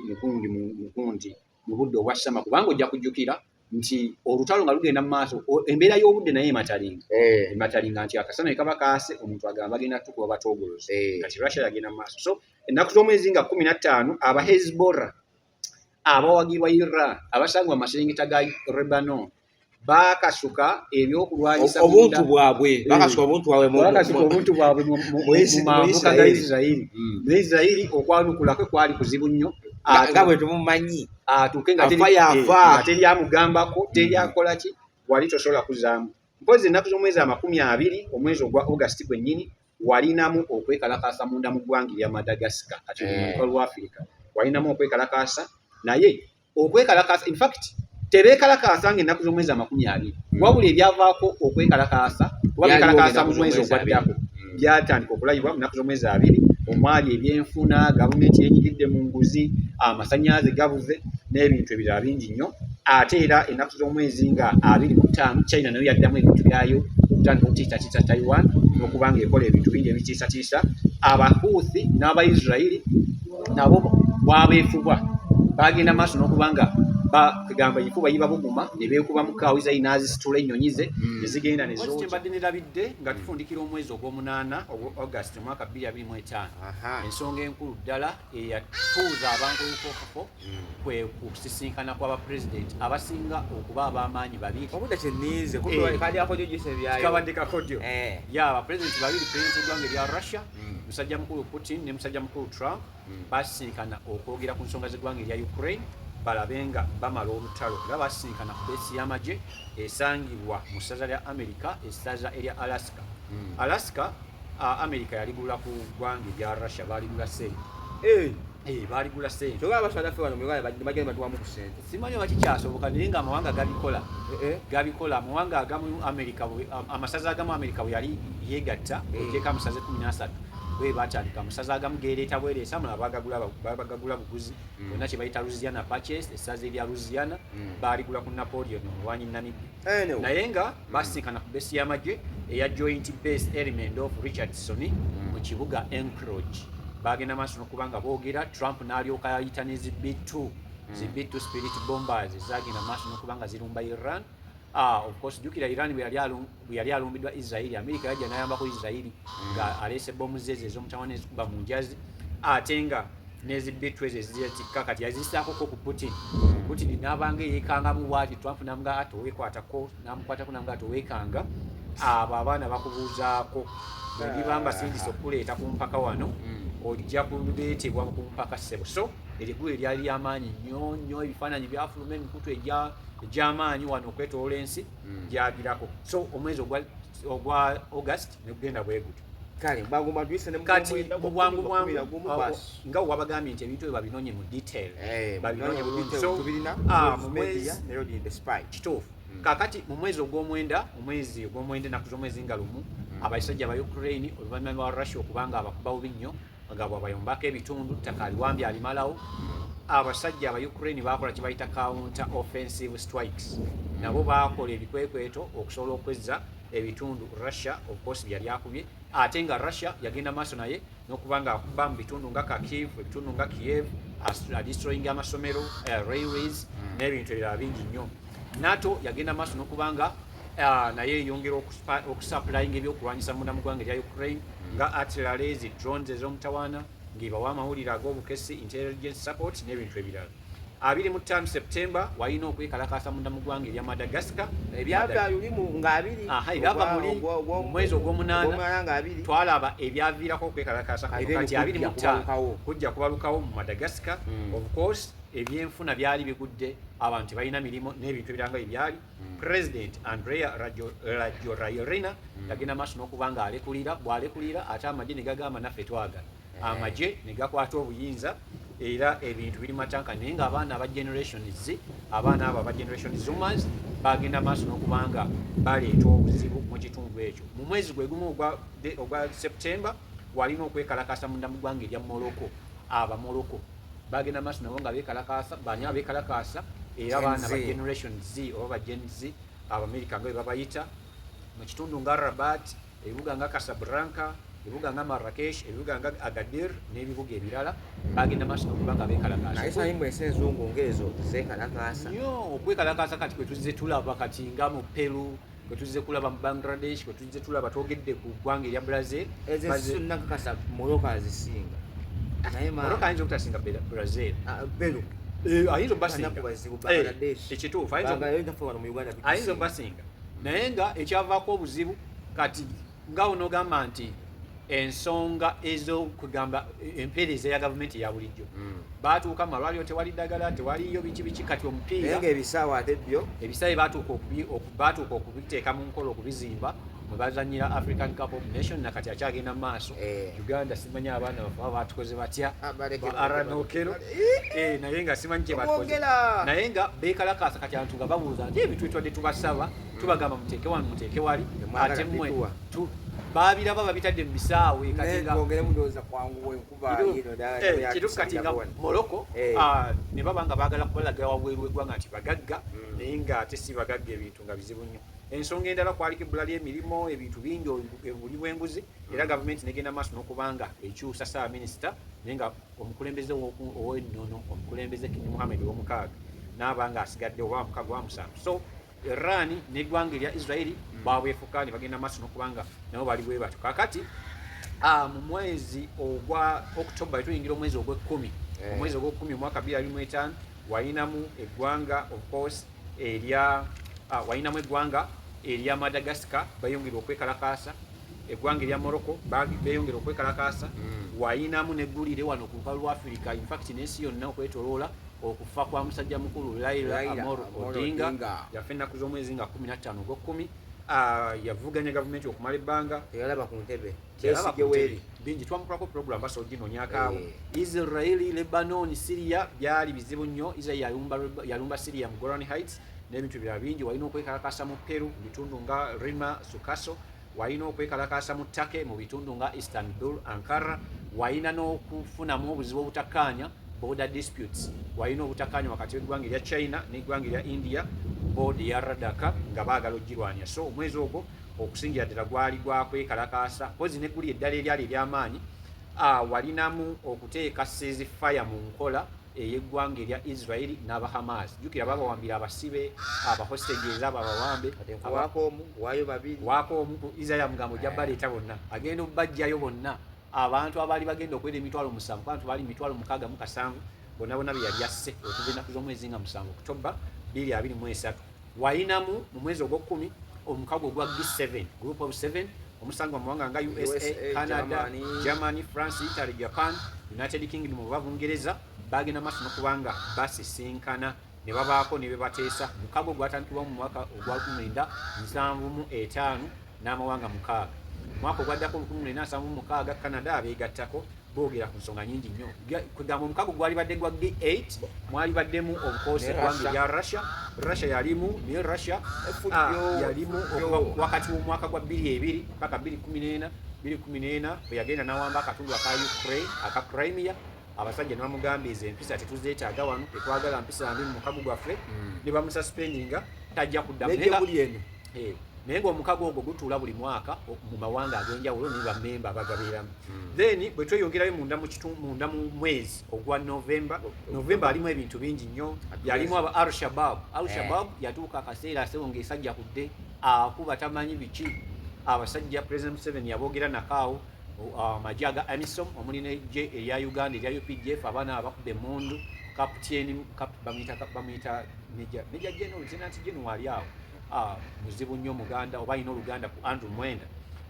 mukundi mukundi mu budde obwa sama kubanga ojja kujjukira nti olutalo nga lugenda mu maaso embeera y'obudde naye ematalinga eh. ematalinga nti akasana ekaba kaase omuntu agamba bagenda tukuba batogolozi eh. kati russia yagenda mu maaso so ennaku z'omwezi nga kumi na ttaano aba hezbollah abawagirwa Irra abasangibwa amaserengeta ga Rebano bakasuka ebyokulwanyisa obuntu bwabwe eh, bakasuka obuntu bwabwe bakasuka obuntu bwabwe mu mambuka ga Isirayiri hmm. ne Isirayiri okwanukula kwe kwali kuzibu nnyo nga bwe tumumanyi atuuke nga teri eh, amugambako teri hmm. akola ki wali tosobola kuzaamu mpozi ennaku z'omwezi amakumi abiri omwezi ogwa August gwennyini walinamu okwekalakaasa munda mu ggwanga erya madagascar kati oluka lwa africa walinamu okwekalakaasa naye okwekalakaasa infact tebekalakaasa nga ennaku z'omwezi amakumi abiri hmm. wabula ebyavaako okwekalakaasa kuba bekalakaasa mu mwezi ogwaddako hmm. byatandika okulayibwa mu nnaku z'omwezi abiri omwali ebyenfuna gavumenti yenyigidde mu nguzi amasanyalaze gabuze n'ebintu ebirala bingi nnyo ate era ennaku z'omwezi nga abiri mu ttaano china nayo yaddamu ebintu byayo okutandika okutiisatiisa taiwan n'okuba nga ekola ebintu bingi ebitiisatiisa abahuthi n'abaisirairi nabo bwabeefubwa bagenda maaso n'okuba nga kugamba enkuba yibabuguma ne beekuba mu kaawo isayi n'azisitula ennyonyi ze hmm. ne zigenda ne zooki kyembadde nerabidde nga tufundikira omwezi ogw'omunaana ogwa august mwaka bbiri abiri mu etaano ensonga enkulu ddala eyatuuza abantu ebikokako kwe kusisinkana kwa ba president abasinga okuba abamaanyi babiri obudde kyenniize eh. kali akojo gise byayo kabadde kakojo eh. ya ba president babiri president eggwanga erya russia hmm. musajja mukulu putin ne musajja mukulu trump hmm. basisinkana okwogera ku nsonga z'eggwanga erya ukraine balabe nga bamala olutalo era basisinkana ku beesi y'amagye esangibwa mu ssaza lya america essaza erya alaska hmm. alaska america yaligula ku ggwanga erya russia baligula sente eh. Eh, baaligula sente oba abasaala ffe wano bagenda batuwamu ku sente simanyi oba kikyasoboka naye nga amawanga gabikola eh, eh. gabikola amawanga agamu amerika amasaza agamu amerika bwe yali yegatta ejeko amasaza ekumi nasatu bwe batandika amasaza agamu gereeta bwereesa amala bagagula buguzi mm. bonna kye bayita lusiana paces esaza erya lusiana mm. baaligula ku napoleon omulwanyi namibia eh, naye nga basinkana ku besi y'amagye eya joint base element of richardson hmm. mu kibuga encroge bagenda maaso nokuba nga boogera trump n'alyoka yayita ne zi b2 hmm. zi b2 spirit bombers zagenda maaso nokuba nga zirumba iran Ah, of course jukira Iran bwe yali alumbidwa Israeli Amerika yajja n'ayambako Israeli nga aleese bomu zeze ez'omutawana ezikuba mu njazi ate nga nezi bitu ezo ezitikka kati yazisaako ko ku Putin Putin n'abanga eyekangamu bwati Trump namga ati owekwatako namukwatako namga ati owekanga abo abaana bakubuuzaako bwebiba mbasindise okukuleeta ku mpaka wano mm. ojja kuleetebwa ku mpaka ssebo so erigulu eryali lyamaanyi nnyo nnyo ebifaananyi byafuluma emikutu egy'amaanyi wano okwetoola ensi mm. gyagirako so omwezi ogwa august negugenda bweguti kale bwangu mwadwise ne mukati bwangu bwangu nga wabagambye nti ebintu ebyo babinonye mu detail eh, babinonye mu detail so tubirina ah, mu media ne road in the spy kituufu hmm. kakati mu mwezi ogw'omwenda omwezi ogw'omwenda enaku z'omwezi nga lumu hmm. abasajja ba ukraine oluvannyuma lwa russia okubanga abakuba bubi nnyo nga bwabayombako ebitundu ttaka aliwambi alimalawo hmm. abasajja aba ukraine bakola kye bayita counter offensive strikes nabo baakola ebikwekweto okusobola okwezza ebitundu Russia of course byali akubye ate nga Russia yagenda maaso naye nokuba nga akuba mu bitundu nga Kharkiv ebitundu nga Kiev destroying amasomero uh, railways mm. n'ebintu ebirala bingi nnyo NATO yagenda maaso nokuba nga uh, naye eyongera okusupplyinga ebyokulwanyisa munda mu ggwanga erya Ukraine mm. nga artillery zi drones ez'omutawaana ng'ebawa amawulire ag'obukessi intelligence support n'ebintu ebirala abiri mu ttaano septemba walina okwekalakaasa munda mu ggwanga erya madagascar ebyava muli omwezi ogwomunaana twalaba ebyaviirako okwekalakaasa kati abiri mu ttaano kujja kubalukawo mu madagascar hmm. ofcourse ebyenfuna byali bigudde abantu balina mirimu n'ebintu ebiranga ebyali hmm. president andrea rajorairina hmm. yagenda maaso n'okuba nga alekulira bw'alekulira ate amagye ne gagamba naffe twagala amagye ne gakwata obuyinza era ebintu biri matanka naye nga abaana aba generations abaana abo aba generation zoomers bagenda maaso n'okubanga baleeta obuzibu mu kitundu ekyo mu mwezi gwe gumu ogwa september walina okwekalakasa munda mu ggwanga erya morocco aba morocco bagenda maaso nabo nga bekalakasa bani abekalakasa era abaana ba generation z oba ba gen z abamerica nga bebabayita mu kitundu nga rabat ebibuga nga Casablanca ebibuga nga Marrakesh ebibuga nga Agadir n'ebibuga ebirala bagenda maaso nokuba nga bekalakaasenzungu ngaezo zekalakaasa nyo okwekalakaasa kati kwetuzze tulaba kati nga mu Peru kwetuzze kulaba mu Bangladesh kwetuzze tulaba twogedde ku ggwanga erya Brazil ezosunakakasa moroka azisinga moroka ayinza okutasinga Brazil ah, Peru eh, ayinza obasinga eh, ekituufu ayinza obasinga naye nga ekyavaako obuzibu kati nga onogamba nti ensonga ezokugamba empeereza ya gavumenti eya bulijjo hmm. baatuuka mu malwaliro tewali ddagala tewaliyo biki biki kati omupiira ebisaawa ate byo ebisaawe baatuuka okubiteeka mu nkola okubizimba mwe bazanyira african cup of nation nakati akyagenda mu maaso eh. Uganda simanyi abaana bafe baba batukoze batya ah, baaranookero eh, naye nga simanyi kyebatukoze naye nga beekalakaasa kati antu nga babuuza nti ebintu bitwadde tubasaba hmm. tubagamba muteeke wano muteeke wali ate mwe baabiraba babitadde mu bisaawe kati nga eh, moroko eh. ah, ne baba nga baagala kubalaga wabweru wegwanga nti bagagga hmm. naye nga ate si bagagga ebintu nga bizibu nnyo Ensonga endala kwaliko ebbula ly'emirimu, ebintu bingi ebuli bw'enguzi era mm. gavumenti negenda maaso n'okubanga ekyusa ssaabaminisita naye nga omukulembeze ow'ennono omukulembeze Kingi Muhammed ow'omukaaga n'aba nga asigadde oba mukaga wa musanvu so Iran n'eggwanga erya Israeli mm. baabwefuka ne bagenda maaso n'okubanga nabo bali bwe batyo kaakati ah, mu mwezi ogwa October tuyingira omwezi ogw'ekkumi eh. omwezi ogw'ekkumi omwaka bbiri abiri mu etaano walinamu eggwanga of course erya ah, walinamu eggwanga erya Madagascar bayongera okwekalakaasa eggwanga erya Morocco beyongera okwekalakaasa mm. wayinamu neggulire wano ku lukalu lwa Afirika infact n'ensi yonna okwetoloola okufa kwa musajja mukulu Laila Amor Odinga yafa ennaku z'omwezi nga 15 ogw'okkumi ah, yavuganya gavumenti okumala ebbanga eyalaba ku ntebe Besigye weeri bingi twamukolako program basa oginonyako awo eh. israeli lebanon syria byali bizibu nnyo israeli yalumba syria mu goran heights n'ebintu birala bingi walina okwekalakasa mu peru mu bitundu nga rima sukaso walina okwekalakasa mu take mu bitundu nga istanbul ankara walina n'okufunamu obuzibu obutakkaanya border disputes walina obutakkaanya wakati w'eggwanga erya china n'eggwanga erya india board ya radaka nga baagala okugirwanya so omwezi ogwo okusingira ddala gwali gwa kwekalakaasa mpozi ne guli eddala eryali ery'amaanyi walinamu okuteeka seezi faya mu nkola ey'eggwanga erya israeli n'aba hamas jjukira babawambira abasibe abahostages abo abawambe waako omu ku israeli amugambo ojja baleeta bonna agenda okubajjayo bonna abantu abaali bagenda okwera emitwalo musanvu abantu baali mitwalo mukaaga mu kasanvu bonna bonna beyali asse okuva ennaku z'omwezi nga musanvu okutobba bbiri abiri mu esatu wayinamu mu mwezi ogwokumi omukago ogwa G7 group of 7 omusanga mumawanga nga usa canada germany france italy japan united kingdom oba bungereza bagenda maaso nokubanga basisinkana ne babaako ne bebateesa mukago gwatandikibwa mu mwaka ogwa 1975 n'amawanga mukaaga mwaka ogwaddako 1976 canada abeegattako boogera ku nsonga nyingi nnyo kwegamba omukago gwalibadde gwa g8 mwalibaddemu obukoosi eggwanga erya russia russia yalimu naye russia ah, yalimu wakati w'omwaka gwa 22 paka 214 214 bwe yagenda n'awamba akatundu aka ukraine aka crimea abasajja ne bamugamba ezo empisa tetuzeetaaga wano tetwagala mpisa mbi mu mukago gwaffe hmm. ne bamusaspendinga tajja kuddamu Eh, naye ngaomukago ogwo gutuula buli mwaka mu mawanga ag'enjawulo ne bamemba abagabeeramu hmm. then bwe tweyongerayo munda munda mu mwezi ogwa novemba novemba alimu ebintu bingi nnyo yalimu aba al shabab al shabab eh. yatuuka akaseera asewo ngaesajja kudde akuba tamanyi biki abasajja president museveni yaboogera nakaawo amagye uh, aga amisom omuli nejje erya uganda erya updf abaana abakuba emundu kapteni bamuyita meja general tenant general ali awo Ah, muzibu nnyo muganda oba alina oluganda ku andrew mwenda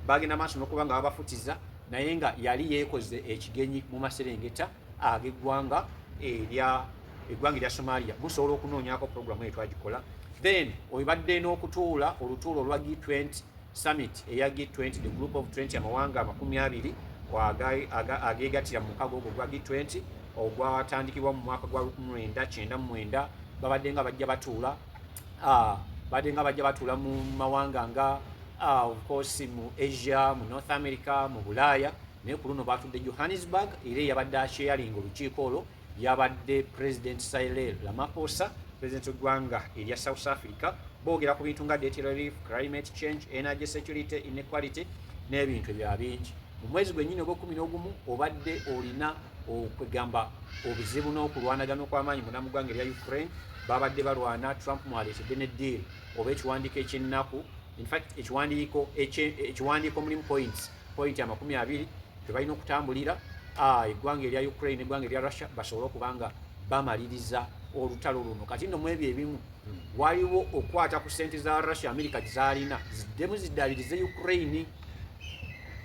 bagenda maaso nokuba nga babafutiza naye nga yali yekoze ekigenyi mu maserengeta ageggwanga erya eggwanga erya somalia musobola okunoonyako programu eyo twagikola then obibadde n'okutuula olutuula olwa g 20 summit eya g 20 the group of 20 amawanga amakumi abiri ageegatira mu mukago ogwo gwa g 20 ogwatandikibwa mu mwaka gwa 1999 babadde nga bajja batuula badde nga bajja batuula mu mawanga nga ofcourse mu asia mu north america mu bulaaya naye ku luno batudde johannesburg era eyabadde akyeyalinga olukiiko olwo yabadde president sirel lamaposa president wegwanga erya south africa boogera ku bintu nga date relief climate change energy security inequality n'ebintu ebya bingi mu mwezi gwennyini ogwekumi n'ogumu obadde olina okwegamba obuzibu n'okulwanagana okw'amaanyi mu namugwanga erya ukraine babadde balwana trump mwaleetedde ne deal oba ekiwandiiko ekyennaku infact ekiwandiiko ekiwandiiko mulimu points point amakumi abiri tebalina okutambulira ah, eggwanga erya ukraine eggwanga erya russia basobole okuba nga bamaliriza olutalo luno kati nno mwebyo ebimu waliwo okukwata ku sente za russia amerika gyezalina ziddemu ziddabirize ukraine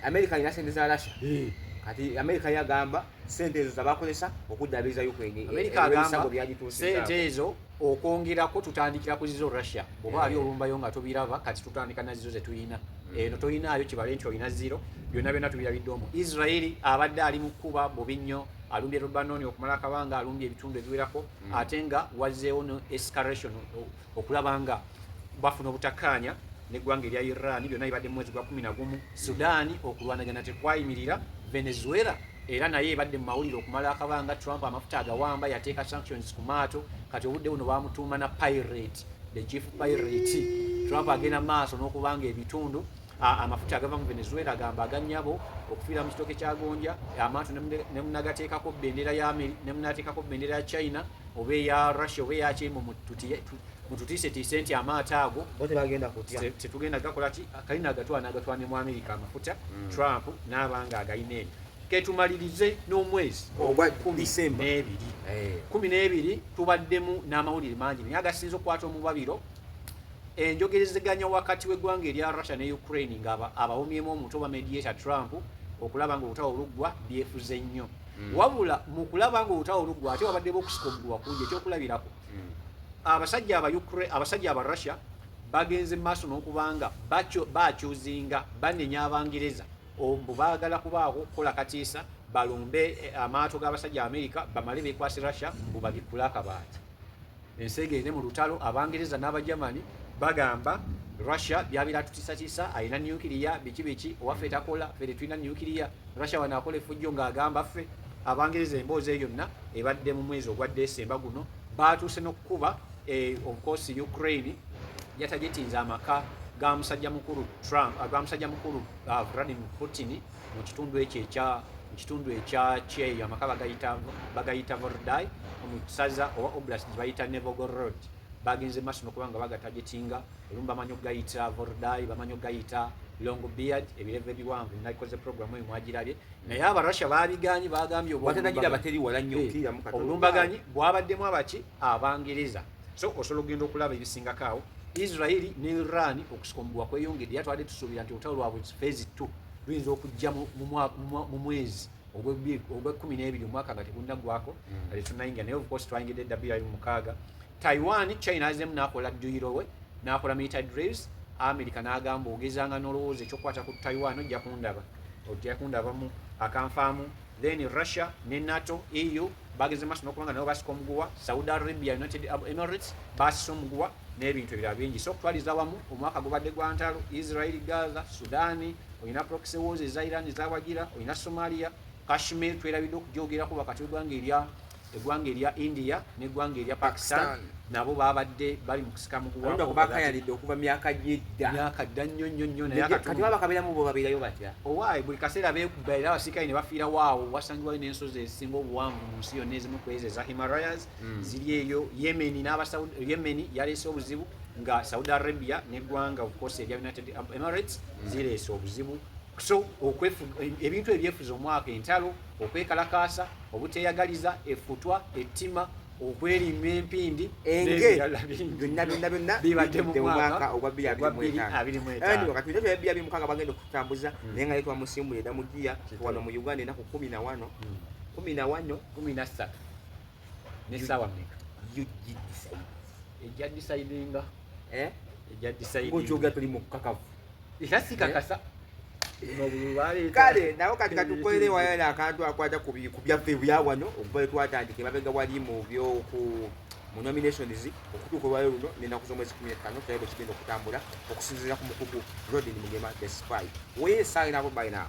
America alina sente za Russia eh. kati America yagamba sente ezo zabakozesa okuddaabiriza Ukraine eh, America agamba sente ezo okwongerako tutandikira ku zizo Russia oba ali eh. olumbayo nga tubiraba kati tutandika na zizo zetulina hmm. eno tolinaayo kibale nti olina ziro byonna byonna tubirabidde omu Israeli abadde ali mu kuba bubi nnyo alumbye Lebanon okumala akabanga alumbye ebitundu ebiwerako hmm. ate nga wazzeewo no escalation oh, okulaba nga bafuna obutakkaanya neggwanga erya iran byonna bibadde mu mwezi gwa kumi nagumu sudaani okulwanagana tekwayimirira venezuela era naye ebadde mu mawulire okumala akabanga trump amafuta agawamba yateeka sanctions ku maato kati obudde buno bamutuuma na pirate the chief pirate trump agenda maaso n'okubanga ebitundu amafuta agava mu venezuela agamba aganyabo okufiira mu kitooke kya gonja amantu nemunagateekako bendera ya ameri nemunateekako bendera ya china oba eya russia oba eyakyeimu mututiisetiise nti amaato ago tetugenda gakola ki kalina agatwana agatwane mu amerika amafuta mm. trump n'abanga agalina ebyo ketumalirize n'omwezi ogwakuminebiri kumi n'ebiri eh. tubaddemu n'amawulire mangi naye agasinza okukwata omubabiro Enjogerezeganya wakati w'eggwanga erya Russia ne Ukraine nga abawomyemu omutwe oba mediator Trump okulaba nga olutawo luggwa byefuze nnyo mm. wabula mu kulaba nga olutawo luggwa ate wabaddewo okusika omuguwa kungi ekyokulabirako mm. abasajja aba Ukraine abasajja aba Russia bagenze maaso n'okubanga bakyuzinga banenya abangereza mbu baagala kubaako okukola katiisa balumbe eh, amaato g'abasajja amerika bamale bekwasi russia mbu babikkule akabaati ensi egende mu lutalo abangereza n'abajamani bagamba russia byabira tutisatisa alina nukiriya biki biki owaffe takola fere tulina nukiriya russia wano akola efujjo ng'agamba ffe abangereza emboozi eyo yonna ebadde mu mwezi ogwa desemba guno baatuuse n'okukuba eh, ofcourse ukraine yatagitinza amaka ga musajja mukulu trump ah, ga musajja mukulu ah, vladimir putin mu kitundu ekyo ekya mu kitundu ekya kyeyo amaka bagayita vordai mu kisaza oba oblas gye bayita nevogor road bagenze maaso nokuba nga bagatagetinga olumu bamanyi okugayita vordai bamanyi okugayita long beard ebirevu ebiwanvu nakoze program oyo mwagirabye naye abarussia babiganyi bagambye obulumbaganyi eh, bwabaddemu abaki abangereza so osobola okugenda okulaba ebisingako awo israeli ne iran okusika omuguwa kweyongedde yatwade tusuubira nti olutalo lwabwe fezi 2 luyinza okujja mu mwezi ogwekumi n'ebiri omwaka nga tegunaggwako hmm. nga tetunayingira naye ofcourse twayingidde eddabiri ali mumukaaga taiwan china azemu nakola duyiro we nakola milita drives america nagamba ogezanga nolowooza ekyokukwata ku taiwan ojja kundaba ojja kundabamu akanfaamu then russia ne nato eu bageze maaso nokubanga nabo basika omuguwa saudi arabia united emirates basisa omuguwa n'ebintu ebirala bingi so okutwaliza wamu omwaka gubadde gwa ntalo israel gaza sudani olina proxy wars eza iran ezawagira olina somalia kashmir twerabidde okujoogerako wakati wegwanga erya egwanga erya india negwanga erya pakistan nabo babadde bali mukusika mukuwakayalidde okuva myaka gyedda myaka dda nnyo nnyo nnyo nayekati baba kaberamu bo babirayo batya owaayi buli kaseera bekuba era abasirikale ne bafiira waawo wasangiwayo n'ensozi ezisinga obuwanvu mu nsi yonna ezimu kwezi eza himalayas mm. ziri eyo yemeni n'abasaudi yemeni yaleese obuzibu nga saudi arabia neggwanga ofcourse erya united emirates mm. zireese obuzibu so ebintu ebyefuza omwaka entalo okwekalakaasa obuteyagaliza efutwa ettima okwerimba empindi engebyonnabyonnabibademumwaka ogwa 2mukaaga bagenda okutambuza hmm. naye nga yetwamusimbula edamugiya wano mu uganda enaku kumi na wano hmm. kumi na wano kumi na ssatu ne sawa meka ug decide ejja decidinga eh ejja decide ngo choga tuli mu kakavu ila sikakasa eh? kale nawo kati katukwelewa yale akantu akwata ku byaffe byawano okuva lwetwatandika emabega wali mu byoku mu nominations okutuuka olwayo luno nenaku z'omwezi kumi ettano tulabe bwe kigenda okutambula okusinziira ku mukugu rodin mugema the spy where is sign up by now